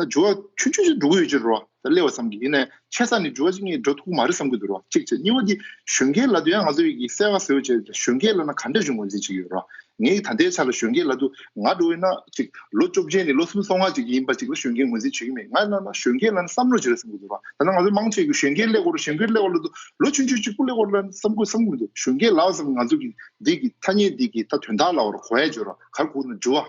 ད་ཇོ་བ་ཆུང་ཆུང་ཞིག་འགྲོ་གི་ཡོད་ཅེས་རོ་བ་ད་གླེ་བ་བསམ་གི་ཡིན་ནས་ཆད་ས་ནི་ཇོ་བ་ཅིག་ངས་འགྲོ་ཐུག་གི་མ་རེད་བསམ་གི་འདུག་རོ་གཅིག་བྱས་གཉིས་བ་འདི་གཞོན་སྐྱེས་ལ་དུ་ཡང་ང་ཚོ་ཡིག་གི་གསལ་བ་ཟེར་བ་བྱས་གཞོན་སྐྱེས་ལ་ན་ག་འདྲ་བྱུང་ངོ་འཛིན་བྱེད་ཀྱི་ཡོད་རོ་ངས་ཀྱི་ད་ལྟའི་ཆ་ལ་གཞོན་སྐྱེས་ལ་དུ་ང་འགྲོ་བས་ན་གཅིག་ལོ་བཅོ་བརྒྱད་ནས་ལོ་གསུམ་སོ་ལྔ་ཅིག་ཡིན་པ་ཅིག་ལ་གཞོན་སྐྱེས་ངོ་འཛིན་བྱེད་ཀྱི་མེད་ང་ལ་ན་གཞོན་སྐྱེས་ལ་ན་བསམ་བློ་བྱེད་རེད་བསམ་གི་འདུག་རོ་ད་ནང་ང་ཚོའི་མང་ཆེ་གི་གཞོན་སྐྱེས་གླེ་གོ་རོ་གཞོན་སྐྱེས་གླེ་གོ་ལ་དུ་ལོ་ཆུང་ཆུང་གཅིག་པུ་གླེ་གོ་རོ་ལ་བསམ་གོ་བསམ་གི་འདུག་གཞོན་སྐྱེས་ལ་བསམ་ང་ཚོ་གི་འདི་གི་ཐ་སྙད་འདི་གི་ད་དོན་དག་ལ་བ་རོ་གོ་ཡ་བྱེད་རོ་གར་ཁུག་ན་ཇོ་བ།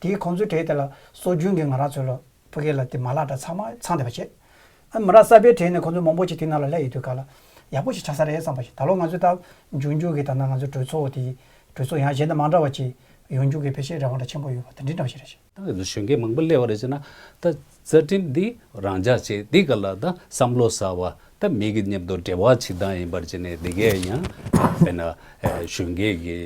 དེས་ཁོང་ཚོའི་གྲས་དེ་ལ་སྲོལ་རྒྱུན་གྱི་ང་ར་ཚོའི་ལོ་ཕུ་གེ་ལ་དེ་མ་ལགས་འདྲ་ཚང་མ་ཚང་བསྡད་པ་བྱས། མི་ར་གསར་པའི་གྲས་ནས་ཁོང་ཚོའི་མང་པོ་ཞིག་དེ་ན་ལ་སླེ་ཡོད་དུས་ག་ལ་ཡག་པོ་ཞིག་ཆགས་ས་རེད་བསམ་པ་བྱས་ད་ལོ་ང་ཚོའི་ལྟ་འཇུག་མཇུག་གི་ད་ན་ང་ཚོའི་གྲོས་ཚོགས་དེ་གྲོས་ཚོགས་ཡང་གཞན་དང་མ་འདྲ་བ་ཅིག་ཡོང་རྒྱུ་གི་ཕལ་ཆེར་རེ་བ་འདྲ་ཆེན་པོ་ཡོད་པ་དེ་འདྲའི་འདྲ་བ་ཞིག་རེད། ད་གཟོད་གཞོན་སྐྱེས་མང་པོ་སླེ་བ་རེད་བྱས་ན། ད་རྩ་ཁྲིམས་འདི་རང་འཇགས་བྱེད་འདི་ག་ལ་ད་བསམ་བློ་ཟ་བ་ད་མི་གི་སྙེབ་དོ་འབྲེལ་བ་ཕྱི་དང་ཡིན་པར་བྱེད་ནས་འདི་གས་ཡང་དཔེར་ན་གཞོན་སྐྱེས་ཀྱི་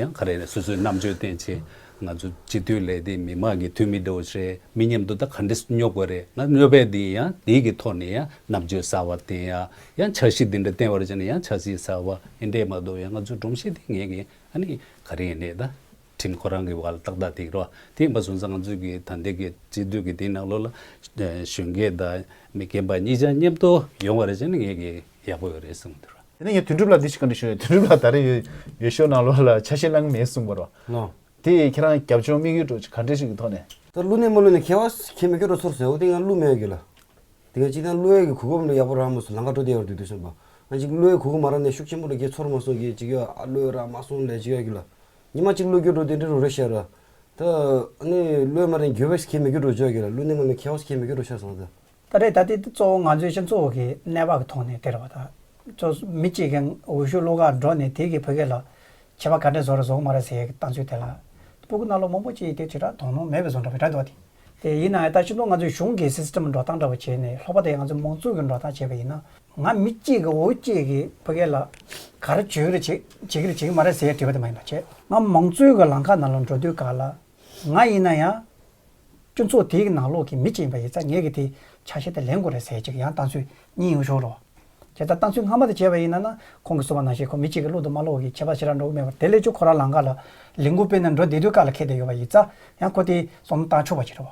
ཡང་ག་རེ་ནས་སོ་སོའི་རྣམ་དཔྱོད་བསྟན་ཕྱིན་ང་ཚོ་སྤྱི་འཐུས་ལས་དེ་མི་མང་གི་འཐུས་མི་འདོད་བྱས་མི་སྙེབ་དོ་ད་ག་འདྲེ་སྙོབ་དགོས་རེད་ང་སྙོབ་པའི་འདི་ཡང་འདི་གི་ཐོག་ནས་ཡང་རྣམ་དཔྱོད་ཟ་བ་བསྟན་ཡ་ཡང་འཆར་གཞི་འདི་འདྲ་བསྟན་བར་བྱས་ནས་ཡང་འཆར་གཞི་ཟ་བ་འདི་འདྲས་མ་གཏོགས་ཡང་ང་ཚོ་སྒྲོམ་གཞི་འདི་ངས་གི་ཨ་ནི་ག་རེ་ནས་ད། ཁྲིམས་ཁོ་རང་གི་བར་ལ་ཏག་ཏག་ཐིག་རོ་དེ་ཡིན་པ་སོང་ཙང་ང་ཚོས་ཀྱི་ད་ལྟའི་ཀྱི་སྤྱི་འཐུས་ཀྱི་དེའི་ནང་ལོགས་ལ་གཞོན་སྐྱེས་དང་མི་རྒན་པ་གཉིས་ཆ་མཉམ་དུ་ཡོང་བ་རེད་བྱས་ན་ངས་ཀྱི་ཡག་པོ་ཡོད་རེད་གསུངས་འདུག་ར། དེ་ནས་ངས་དོན་གྲུབ་ལ་འདི་ཞིག་ག་འདྲི་ཞུས་ན་དོན་གྲུབ་ལགས་ད་རེ་ཡོད་ཤོག་ནང་ལོགས་ལ་ཆ་ཤས་བླངས་གི་མེད་གསུངས་པ་རོ། དེ་ཡིས་ཁྱེད་རང་རྒྱབ་ལྗོངས་དམིགས་ཡུལ་འགྲོ་ག་འདྲི་ཞིག་གི་ཐོག་ནས། ད་བསླུ་ནས་མ་བསླུ་ནས་ཁྱེད་བ་ཁྱེད་མི་སྐྱོ་རོ་ཚོར་ཟེར་འོ་དེ་ཡང་བསླུ་མེད་གི་ལ། དེ་ངས་ཅིག་ཐང་བསླུ་ཡས་ཀྱི་གུས་སྒོམ་ལོ་ཡག་པོ་རག་མ་སོང་ལང་ཀ་དྲོ་དེ་ཡོང་དུས་དུས་སོང་པ། ང་ཅིག་བསླུ་ཡས་གུས་སྒོམ་མ་རག་ནས་ཤུགས་ཆེན་པོ་ལ་རྒྱས་ཚོར་མ་སོང་གི་ཅིག་ཡོད་ཨ་བསླུ་ཡས་རག་མ་སོང་ལས་ཅིག་ཡོད་གི་ལ། ཉི་མ་གཅིག་གླུ་བསྒྱུར་འགྲོ་དེ་འདྲའི་རུ་རེ་ཤར། ད་ནི་གླུའི་མ་རིན་འགྱུར་བས་ཁྱེད་མི་བསྒྱུར་འགྲོ་ཆོག་གི་ལ་གླུ་གནས་མ་མི་ཁྱེའོ་ཁྱེད་མི་བསྒྱུར་འགྲོ་ཤར་སོང་ཟེར། ད་རེས་ད་ལྟའི་གཙོ་བོ་ང་ཚོའི་སྤྱི་ཚོགས་ཀྱི་གནས་བབ་ཀྱི་ཐོག་ནས་དེར་བ་དང། གཙོ་མི་གཅིག་གིས་འོད་ཤུགས་གླུ་གར་འགྲོ་ནས་དེ་གིས་བོད་སྐད་ལ། བྱིས་པ་ག་འདྲས་བཟོ་ར་བཟོ་གི་མ་ར་ཟེར་གི་བཏང་ཚུལ་དེ་ལ། སྤུ་གུ་སྣ་ལོ་མང་པོ་གཅིག་དེ་དྲིལ་བསྒྲགས་དོ་སྣང་མེད་པའི་བཟོ་འདྲ་བའི་སྒྲ་འདོགས་ཏེ། དེ་ཡིན་ནའང་ད་སྤྱི་ཚོགས་ང་ཚོའི་གཞུང་གི་སིས་ཏིམ་འགྲོ་སྟངས་འདྲ་བ་བྱས་ནས་ལྷོག་པ་དེ་ཡང་ང་ཚོའི་མང་གཙོ་གི་འགྲོ་སྟངས་བྱས་པ་ཡིན་ན། ང་མི་གཅིག་གིས་འུ་གཅིག་གིས་བོད་སྐད་ལ་ག་རེ་བྱོས་རེ་བྱེད་བྱེད་ཀྱི་རེད་བྱེད་ཀྱི་མ་རེད་ཟེར་བྲིས་པ་དེ་མ་ཡིན་པར་བྱས། ང་མང་གཙོའི་གི་ལང་ཁ་ནང་ལ་འགྲོ་དུས་ག་ལ་ང་ཡིན་ན་ཡང་སྤྱི་ཚོགས་དེའི་གི་ནང་ལོག་གི་མི་གཅིག་ཡིན་པ་ཡིན་ཚ་ངས་གི་དེ་ཆ་ཤས་དེ་ལེན་དགོས་རེད་ཟེར་གཅིག་ཡང་བཏང་ཚུལ་གཉིས་ཡོང་ཞོར་རོ། དེ་ལྟར་བཏང་ཚུལ་སྔ་མ་དེ་བྱས་པ་ཡིན་ན་ན་ཁོང་གི་གསུང་བ་ནང་བཞིན་ཁོ་མི་གཅིག་གིས་བློ་དུ་མ་ལོག་གི་ཁྱད་པར་ཞེ་རག་འགྲོ་གི་མེད་པར་དེ་ལས་ཆུ་ཁོ་རང་ལང་ཁ་ལ་ལིང་གུ་སྤེལ་ནས་འགྲོ་བསྡད་དུས་ག་ལ་ཁེ་དེ་ཡོད་པ་ཡིན་ཚ་ཡང་ཁོ་དེ་སོང་ན་བཏང་ཆོག་པ་ཞིག་རེད་བ།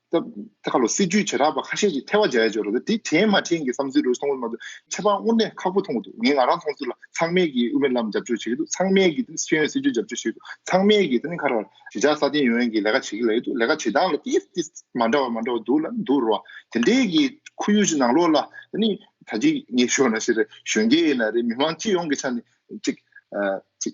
སྐབས་འགར་སྲིད་ཇུས་བྱེ་བྲག་པ་ཁ་ཤས་ཀྱིས་ཐལ་བ་འཇལ་ཡ་ཆོག་རེད་དེ་དྲན་མ་དྲན་གྱི་བསམ་ཚུལ་རེ་རེ་སོང་བ་མ་གཏོགས་ཁྱད་པར་དངོས་གནས་ཁག་པོ་མཐོང་གི་འདུག་ངས་ང་རང་མཐོང་ཚུལ་ལ་ཚང་མས་ཀྱིས་དབུ་མའི་ལམ་རྒྱབ་སྐྱོར་བྱེད་ཀྱི་འདུག་ཚང་མས་ཀྱིས་ཤེས་ཡོན་སྲིད་ཇུས་རྒྱབ་སྐྱོར་བྱེད་ཀྱི་འདུག་ཚང་མས་ཀྱིས་ཐེངས་འཁར་བར་གཞིས་ཆགས་སྲ་བརྟན་ཡོང་ཡན་གྱི་ལས་ཀ་བྱེད་ཀྱི་ལ་ཡོད་འདུག་ལས་ཀ་བྱེད་སྟངས་ལ་ཏིས་ཏིས་མ་འདྲ་བ་མ་འདྲ་བ་འདུག་ལ་འདུག་རོ། དེ་འདྲའི་གི་ཁོར་ཡུག་ཅིག་ནང་ལོགས་ལ་ད་ནི་ད་ཅིག་ངས་ཤོད་ན་ཤེས་རེད་གཞོན་སྐྱེས་ཡིན་ན་རེད་མི་མང་སྤྱི་ཡོངས་ཀྱི་ཆ་ནས་ཅིག་ཅིག་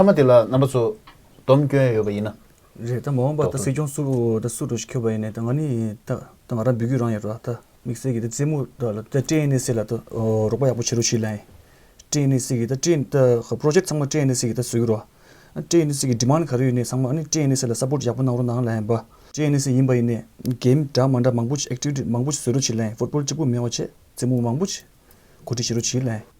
མཐའ་མ་དེ་ལ་རྣམ་པ་ཚོ་སྡོམ་སྐྱོན་ཡོད་པ་ཡིན་ན། རེད་ད་མ་འོངས་པ་ད་སྲིད་སྐྱོང་སུ་ད་སུ་འགྲོ་ཞིག་ཁྱོད་པ་ཡིན་ནའི་ད་ང་ནི་ད་ད་ང་རང་འབུད་རྒྱུ་རང་ཡིན་རོ་ད་དམིགས་བསལ་གྱི་ད་རྩེད་མོ་ད་ལ་ད་ཀྲེན་ནེ་སི་ལ་ད་རོགས་པ་ཡག་པོ་བྱེད་རོགས་ཞུ་ལན། ཀྲེན་ནེ་སི་གི་ད་ཀྲེན་ད Project ཚང་མ་ཀྲེན་ནེ་སི་གི་ད་བཟོས་ཀྱི་རོ། ཀྲེན་ནེ་སི་གི Demand ག་རེ་ཡོད་ནའི་ཚང་མ་ཨཱ་ནི་ཀྲེན་ནེ་སི་ལ Support ཡག་པོ་གནང་རོགས་གནང་ལན་བ། ཀྲེན་ནེ་སི་ཡིན་པ་ཡིན་ནའི Game འདྲ་མ་འདྲ་མང་པོ Activity མང་པོ་བཟོས་རོགས་ཞུ་ལན Football གཅིག་པུ་མེད་བ་བྱས་རྩེད་མོ་མང་པོ་བྱས་གོ་སྒྲིག་བྱེད་རོགས་ཞུ་ལན།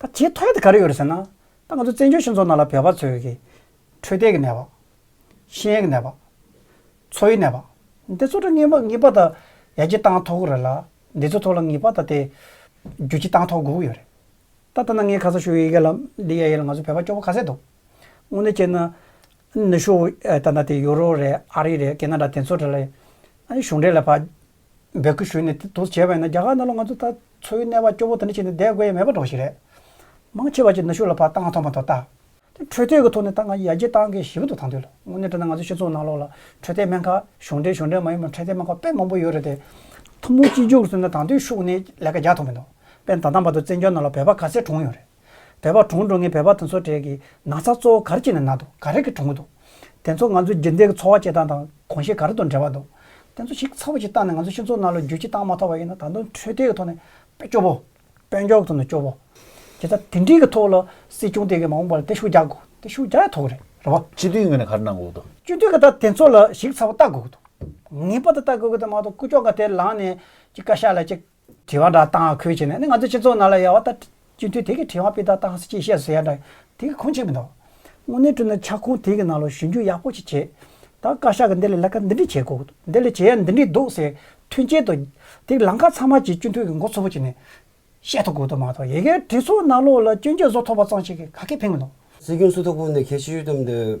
ད་དེའི་ཐོག་དེ་ག་རེ་ཡོད་རེད་ཟེར་ན། ད་ང་ཚོ་བཙན་བྱོལ་སྤྱི་ཚོགས་ནང་ལ་བོད་པ་ཚོས་ཀྱི་འཕྲོད་བསྟེན་གྱི་ནད་པ། ཤེས་ཡོན་གྱི་ནད་པ། འཚོ་བའི་ནད་པ། འདི་ཚོ་ལ་ངེས་པ་ངེས་པ་ད་ཡར་རྒྱས་བཏང་ཐོག་རེད་ལ། འདི་ཚོ་ཐོག་ལ་ངེས་པ་ད་དེ་རྒྱུ་རྐྱེན་བཏང་ཐོག་དགོས་ཀྱི་ཡོད་རེད། ད་ལྟ་ན་ངས་ཁ་ས་ཞུ་ཡི་གེ་ལ་འདི་ཡ་ཡི་ལ་ང་ཚོ་བོད་པ་སྐྱོ་པོ་ག་ཚད་འདུག་དངོས་གནས་བྱས་ན། ནུ་ཞོ་ད་ད་དེ་ཡུ་རོ་རེད་ཨ་རི་རེད་ཀེ་ན་ར་དེ་ཚོ་དེ་ལ་གཞུང་འབྲེལ་ལ་བ། འབོད་སྐུལ་ཞུས་ནས་དེ་དོགས་བྱས་པ་ཡིན་ན་རྒྱ་གར་ནང་ལ་ང་ཚོ་ད་འཚོའི་གནས་བབ་སྐྱོ་བོ་དེ་འདྲ་ཞིག་ནས་བསྡད་དགོས་ཡ་མེད་པ་འདྲ་བོ་ཞིག་རེད། མང་ཆེ་བ་ཅིག་ནུ་ཞོ་ལ་ཕ་ཏང་ཐོག་མ་ཐོག་ལྟ། དེ་འཕྲོད་བསྟེན་གི་ཐོག་ནས་ད་ང་ཡ་རྒྱལ་ཏང་གི་ཞི་བ་འདུག་ཐང་དུས་ལ་དངོས་གནས་བསྡད་ན་ང་ཚོའི་སྤྱི་ཚོགས་ནང་ལོགས་ལ་འཕྲོད་བསྟེན་སྨན་ཁ་གཞུང་འབྲེལ་གཞུང་འབྲེལ་མ་ཡིན་པའི་འཕྲོད་བསྟེན་སྨན་ཁ་དཔེ་མང་པོ་ཡོད་རེད་དེ། ཐུན་མོང་སྤྱི་རྒྱུགས་སུ་ནས་ད་དུས་ཤུགས་ནས་ལས་ཀ་རྒྱག་ཐུབ་མི་འདུག་དཔེར་ན་ད་ལྟ་བར་དུ་བཙན་བྱོལ་ནང་ལ་བོད་པ་ག་ཚད་གྲོངས་ཡོད་རེད། བལ་བ་གྲོང་འགྲོ་ངའི་བལ་བ་དེ་ཚོ་གྲས་ཀྱི་ན་ཚ་གཙོ་བོ་གར་གྱི་ནས་ན་འདུག་ག་རེ་གི་གྲོང་གི་འདུག་དེ་ཚོ་ང་ཚོའི་རྒྱུན་ལྡན་གྱི་འཚོ་བ་བྱེད་སྟངས་དང་གོང་བཞིན་ག་རེ་དང་འབྲེལ་བ་འདུག་དེ་ཚོ་ཞིག་ཚ་བོ་ཞིག་བཏང་ནས་ང་ཚོའི་སྤྱི་ཚོགས་ནང་ལོ་རྒྱུས་ཀྱི་བཏང་མ་ཐག་པ་ཡིན་ན་ད་དུང་འཕྲོད་བསྟེན་གྱི་ཐོག་ནས་དཔེ་སྐྱོ་བོ། དཔེ་མགྱོགས་ཐོག་ནས་སྐྱོ་བོ། དེ་ད་དེ་འདྲིའི་གི་ཐོག་ལ་སྲིད་སྐྱོང་དེ་གི་མ་འོངས་པ་ལ་དེ་ཤུགས་རྒྱག་དགོས་དེ་ཤུགས་རྒྱག་ཡ་ཐོག་རེད་རེད་བ། སྤྱི་འཐུས་ངོས་ནས་ག་རེ་གནང་དགོས་དགོས་དོ། སྤྱི་འཐུས་གི་ད་དེ་ཚོ་ལ་ཞིག་ཚ་བོ་བལྟ་དགོས་གི་འདུག་ངེས་པར་དུ་བལྟ་དགོས་གི་འདུག་མ་གཏོགས་སྐུ་ཕྱོགས་ག་དེ་ལངས་ནས་ཅིག་བཀའ་ཤག་ལ་ཅིག་དྲི་བ་འདྲ་བཏང་ཁུལ་བྱས་ནས་ནི་ང་ཚོའི་སྤྱི་ཚོགས་ནང་ལ་ཡལ་བ་ལྟར་སྤྱི་འཐུས་དེ་གས་དྲི་བ་སྤེལ་ཐབས་བཏང་ཅེས་བཤད་སོ་ཡ་འདྲ་དེ་གས་ཁུངས་ཆེ་མི་འདུག་དངོས་གནས་བཀྲུས་ན་ཆག་ཁུངས་དེ་གས་ནང་ལ་ཞུན་རྒྱུ་ཡག་པོ་ཅིག་བྱེད་ད་བཀའ་ཤག་གས་འདི་ལ་ལས་ཀ་འདི་འདྲི་བྱེད་དགོས་འདི་ལ་བྱེད་ཡ་འདི་འདྲི་འདུག་ཟེར་མཐུན་རྐྱེན་དུ་དེ་གས་ལམ་ཁ་ཚང་མ་གྱི་སྤྱི་འཐུས་གས་མགོ་ཚོ་བོ་བྱས་ནས་བཤད་ཐུབ་དགོས་དོ་མ་ཐོག་ཡེ་གས་གྲི་ཚོགས་ནང་ལོགས་ལ་སྐྱོན་བརྗོད་བཟོ་ཐོབ་པ་ཙང་ཞིག་གས་ག་གས་ཕན་མི་འདུག། སྲིད་སྐྱོང་སུ་དོ་དགོངས་ནས་ཁས་ཞུས་ཡོད་དམ་འདོད།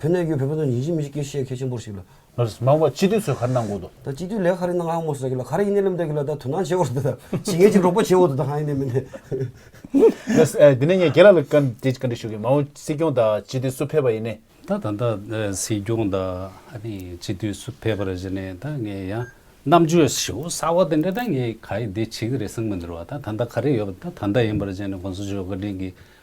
བོད་གནས་ཡུལ་བོད་པ་ཚོ་ཉིན་བཞིན་མི་གཅིག་གིས་བཤད་མཁས་ཆེན་པོར་ཞིག་ལ། མང་བོ་སྤྱི་འཐུས་ཚོས་ག་རེ་གནང་དགོས་དོ། ད་སྤྱི་འཐུས་ལས་ག་རེ་གནང་ཨང་མོ་ཟེར་གི་ལ་ག་རེ་ཡིན་ནའི་ལབ་འདོད་གི་ལ་ད་དོ་སྣང་བྱེད་འོ་དོ་ད་ཇི་ངས་ཅིག་རོགས་པ་བྱེད་འོ་དོ་ད་གང་ཡིན་ནའི་མིན་ནའི། དེ་ནས་ངས་རྒྱལ་ལགས་ལ་བཀའ་འདྲི་ཞུ་གི་མང་བོ་སྲིད་སྐྱོང་དང་སྤྱི་འཐུས་སུ་ཕེབས་པ་ཡིན་ནའི། ད་ད་ལྟ་སྲིད་སྐྱོང་དང་སྤྱི་འཐུས་སུ་ཕེབས་པར་གཞི་ནས་ད་ངས་ཡང་རྣམ་དཔྱོད་ཞེ་བོ་གསར་བ་དེ་འདྲ་ད་ངས་ག་ཡིན་དེ་བྱེད་ཀྱི་རེད་གསུངས་མི་འདུར་བ་ད་ད་ད་ག་རེ་ཡོད་པ་ད་ད་ཡིན་པར་གཞི་ནས་དགོངས་ཚུལ་བརྗོད་བཀའ་དྲིན་གྱི་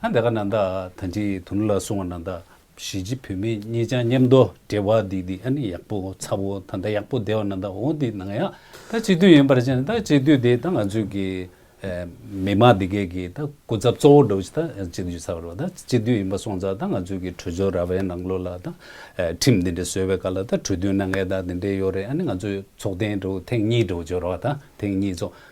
ཨ་འདི་ག་ན་ད་ཐ་འཇི་དུ་ནུ་ལ་སོང་བ་ན་ད་གཞིས་བྱེས་བུད་མེད་གཉིས་ཅང་མཉམ་དོ་འབྲེལ་བ་འདི་འདི་ཨ་ནི་ཡག་པོ་ཚ་བོ་ད་ད་ཡག་པོ་བསྡད་བ་ན་ད་འོ་འདི་ནང་ཡང་ད་སྤྱི་འཐུས་ཡིན་པར་ཅང་ད་སྤྱི་འཐུས་དེ་ད་ང་ཚོས་ཀྱི་མི་དམངས་འདི་གས་ཀྱི་ད་སྐུ་ཚབ་གཙོ་བོ་འགྲོ་བྱེད་ད་སྤྱི་འཐུས་ཚ་བ་རོ་ད་སྤྱི་འཐུས་ཡིན་པ་སོང་ཙང་ད་ང་ཚོས་ཀྱི་གྲོས་ཚོགས་ར་བའི་ནང་ལོ་ལ་ད་ཁྲིམས་འདི་འདྲ་བཟོས་བའི་ཀ་ལ་ད་གྲོས་མཐུན་ནང་ངས་ད་འདི་འདྲས་ཡོད་རེད་ཨ་ནི་ང་ཚོས་ཚོགས་ཐེངས་དྲུག་ཐེངས་གཉིས་འགྲོ་བྱོས་རོགས་ད་ཐེངས་གཉིས་ཚོགས།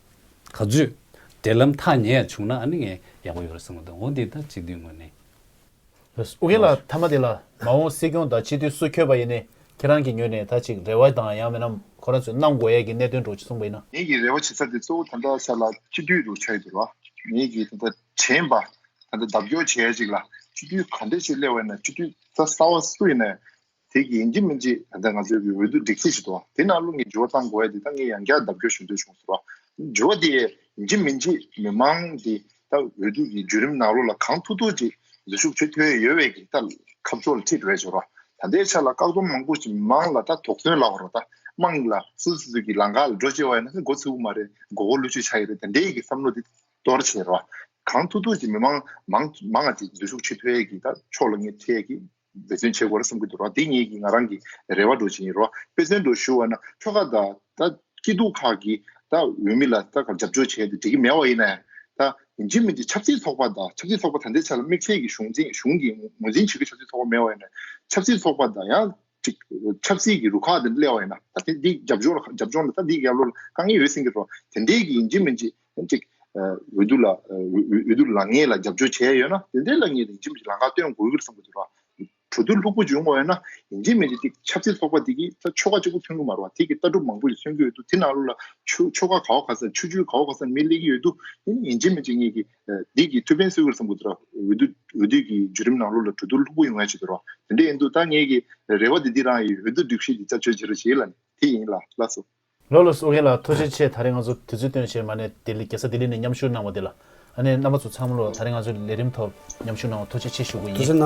ག་རྫུས། འབྲེལ་ལམ་ཐག་ཉེ་ཡ་བྱུང་ན་ཨ་ནི་ངས་ཡག་པོ་ཡོད་རེད་བསམ་གི་འདུག་འོ་འདི་ལྟར་སྤྱི་འཐུས་ངོས་ནས། ཨོ་གིན་ལགས་མཐའ་མ་དེ་ལ་མ་འོངས་སྲིད་སྐྱོང་དང་སྤྱི་འཐུས་སུ་འཁྱོལ་པ་ཡིན་ནས་ཁྱེད་རང་གིས་ངོས་ནས་ད་ཅིག་རེ་བ་དང་ཡང་མིན་ནམ་ཁོ་རང་ཚོས་གནང་དགོས་ཡས་ཀྱི་གནད་དོན་འགྲོ་ཅི་གསུངས་པ་ཡིན་ན། ངེད་ཀྱི་རེ་བ་བྱེད་ས་དེ་གཙོ་བོ་ད་ལྟ་ས་ལ་སྤྱི་འཐུས་རུ་ཆགས་ཡོད་དུ་ལ། ངེད་ཀྱིས་ད་ལྟ་དྲན་པ། ད་ལྟ་ལྡབ་སྐྱོར་བྱེད་ཡ་ཅིག་ལ་སྤྱི་འཐུས་ག་འདྲས་ཆེ་སླེ་བ་ཡིན་ན་སྤྱི་འཐུས་རྩ་ས་བ་སུ་ཡིན་ན་ཡང་དེ་གི་ཡིན་གྱི་མིན་གྱི་ད་ལྟ་ང་ཚོའི་གི་འོས་བསྡུ་སྒྲིག་འཛུགས་ཞིག་ཏུ་དེ་ནང་རླུང་གི་འགྱུར་བ་བཏང་དགོས་ཡ་དེ་ད་ངས་ཡང་བསྐྱར་ལྡབ་སྐྱོར་ཞུ་འདོད་བྱུང་ཟེར་བ། འགྱུར་བ་དེ་ཡིན་གྱི་མིན་གྱི་མི་མང་གི་ད་འོས་བསྡུ་གི་འགྱུར་རིམ་ནང་རོ་ལ་གང་ཐུག་ཐུག་གི་འཛུལ་ཞུགས་བྱེད་འཐོས་ཡོད་བས་གི་ད་ཁ་བཙོ་ལ་ཁྲིད་རེད་ཟེར་བ། ད་ལྟའི་ཆ་ལ་བཀག་སྡོམ་མང་པོ་ཞིག་མི་མང་ལ་ད་དོགས་ཟོན་ལ་བར་བ་ད་དམངས་ལ་སུ་སུ་ཚུགས་གི་ལང་ཀ་ལ་འགྲོ་བྱེད་བ་ཡིན་ན་མགོ་ཚི་བོ་མ་རེད་མགོ་བོ་ལུས་ཆུ་ཆགས་ཡི་རེད་ད་འདྲེ་གི་བསམ་བློ་དེ་གཏོར་བྱེད་ཟེར་བ། གང་ཐུག་ཐུག་གི་མི་མང་མང་མང་གི་འཛུལ་ཞུགས་བྱེད་འཐོས་ཡ་གི་ད་ཕྱོགས་ལ་ངས་ཁྲིད་ཡ་གི་འབད་བརྩོན་བྱེད་དགོས་རེད་བསམ་གྱི་འདུག་ར་འདི་གཉིས་ཀྱིས་ང་རང་གི་རེ་བ་སྒྲོག་བྱེད་ཡིན་རོ། དཔེ་མཚོན་དུ་ཞུ་བ་ན་ཁྱོ་ག་དང་ད་སྐྱིད་སྡུག་ཁག་གི་ད་འོས་མི་ལ་ད་གར་རྒྱབ་སྐྱོར་བྱས་ཏེ་འགྲིག་གི་མེད་བ་ཡིན་ནའི་ད་འཇིག་མི་འཇིག་ཆབ་སྲིད་ཚོགས་པ་དང་ཆབ་སྲིད་ཚོགས་པ་ད་འདི་ཆ་ལ་དམིགས་བསལ་གྱི་གཞུང་འཛིན་གཞུང་གི་ངོས་འཛིན་བྱེད་ཀྱི་ཆབ་སྲིད་ཚོགས་པ་མེད་བ་ཡིན་ནའི་ཆབ་སྲིད་ཚོགས་པ་དང་ཡང་འགྲིག་ཆབ་སྲིད་ཀྱི་རུ་ཁག་དེ་སླེ་བ་ཡིན་ན་ད་འདི་རྒྱབ་སྐྱོར་རྒྱབ་སྐྱོར་ལ་ད་འདི་ཡག་ལོ་ལ་དཀའ་ངལ་ཡོད་སེམས་ཀྱི་རོ་དེ་འདྲས་ཀྱི་འཇིག་མི་འཇིག་ཐེངས་གཅིག་འོས་བསྡུ་ལ་འོས་བསྡུ་ལག་ངེས་ལ་རྒྱབ་སྐྱོར་བྱས་ཡོད་ན་དེ་འདྲའི་ལ་ངེས་རིན་ཆེན་པོ་ཞིག་ལག་ཁ་སྟོན་དགོས་གི་རེད་བསམ་གི་འདུག་ལ། གྲོས་བསྡུར་ལྷུག་པོ་བྱུང་མ་ཡོད་ན་ཡིན་གྱི་མེད་ཀྱི་དེ་ཆབ་སྲིད་ཚོགས་པ་དེ་གིས་ད་ཆོ་ག་གཅིག་པོ་ཐོན་གི་མ་རུ་བ་དེ་གི་ལྟ་གྲུབ་མང་པོ་ཞིག་མཚོན་གི་ཡོད་འདུག་དེ་ནང་ལོ་ལ་ཆོ་ཆོ་ག་གའོ་ག་སར་ཆུ་ཆུའི་གའོ་ག་སར་མི་སླེ་གི་ཡོད་འདུག་དེ་ནི་ཡིན་གྱི་མིན་གྱི་ངེས་གི་འདི་གི་ཐུགས་ཕན་གསོས་གི་རེད་བསམ་གི་འདུག་ལ་འོས་བསྡུ་འོས་བསྡུ་གི་བརྒྱུད་རིམ་ནང་ལོ་ལ་གྲོས་བསྡུར་ལྷུག་པོ་ཡོང་ཡ་ཆེ་གི་རུ་བ་དེ་འདྲས་ཡིན་འདུག་ད་ངེས་གི་རེ་བ་དེ་འདི་རང་ཡི་འོས་བསྡུ་སྒྲིག་གཞི་འདི་བཅའ་བཅོས་བྱེད་རུ་བྱེད་ལ་ནི་དེ་ཡིན་ལ་ལ་སོ། ལོ་ལོ་སོགས་མཁན་ལ་ཐུགས་རྗེ་ཆེ་ད་རེས་ང་ཚོ་དུས་ཚོད་སྟོན་བྱས་མ་ནས་ལྡི་ལི་རྒྱལ་ས་ལྡི་ལི་ནས་མཉམ་ཞུགས་གནང་བ་དེ་ལ་ཨ་ནེ་མནའ་མ་ཚོ་ཚང་མ་ལོ་ད་རེས་ང་ཚོའི་ལས་རིམ་ཐོག་མཉམ་ཞུགས་གནང་བ་ཐུགས་རྗེ་ཆེ་ཞུ་དགོས་ཡིན།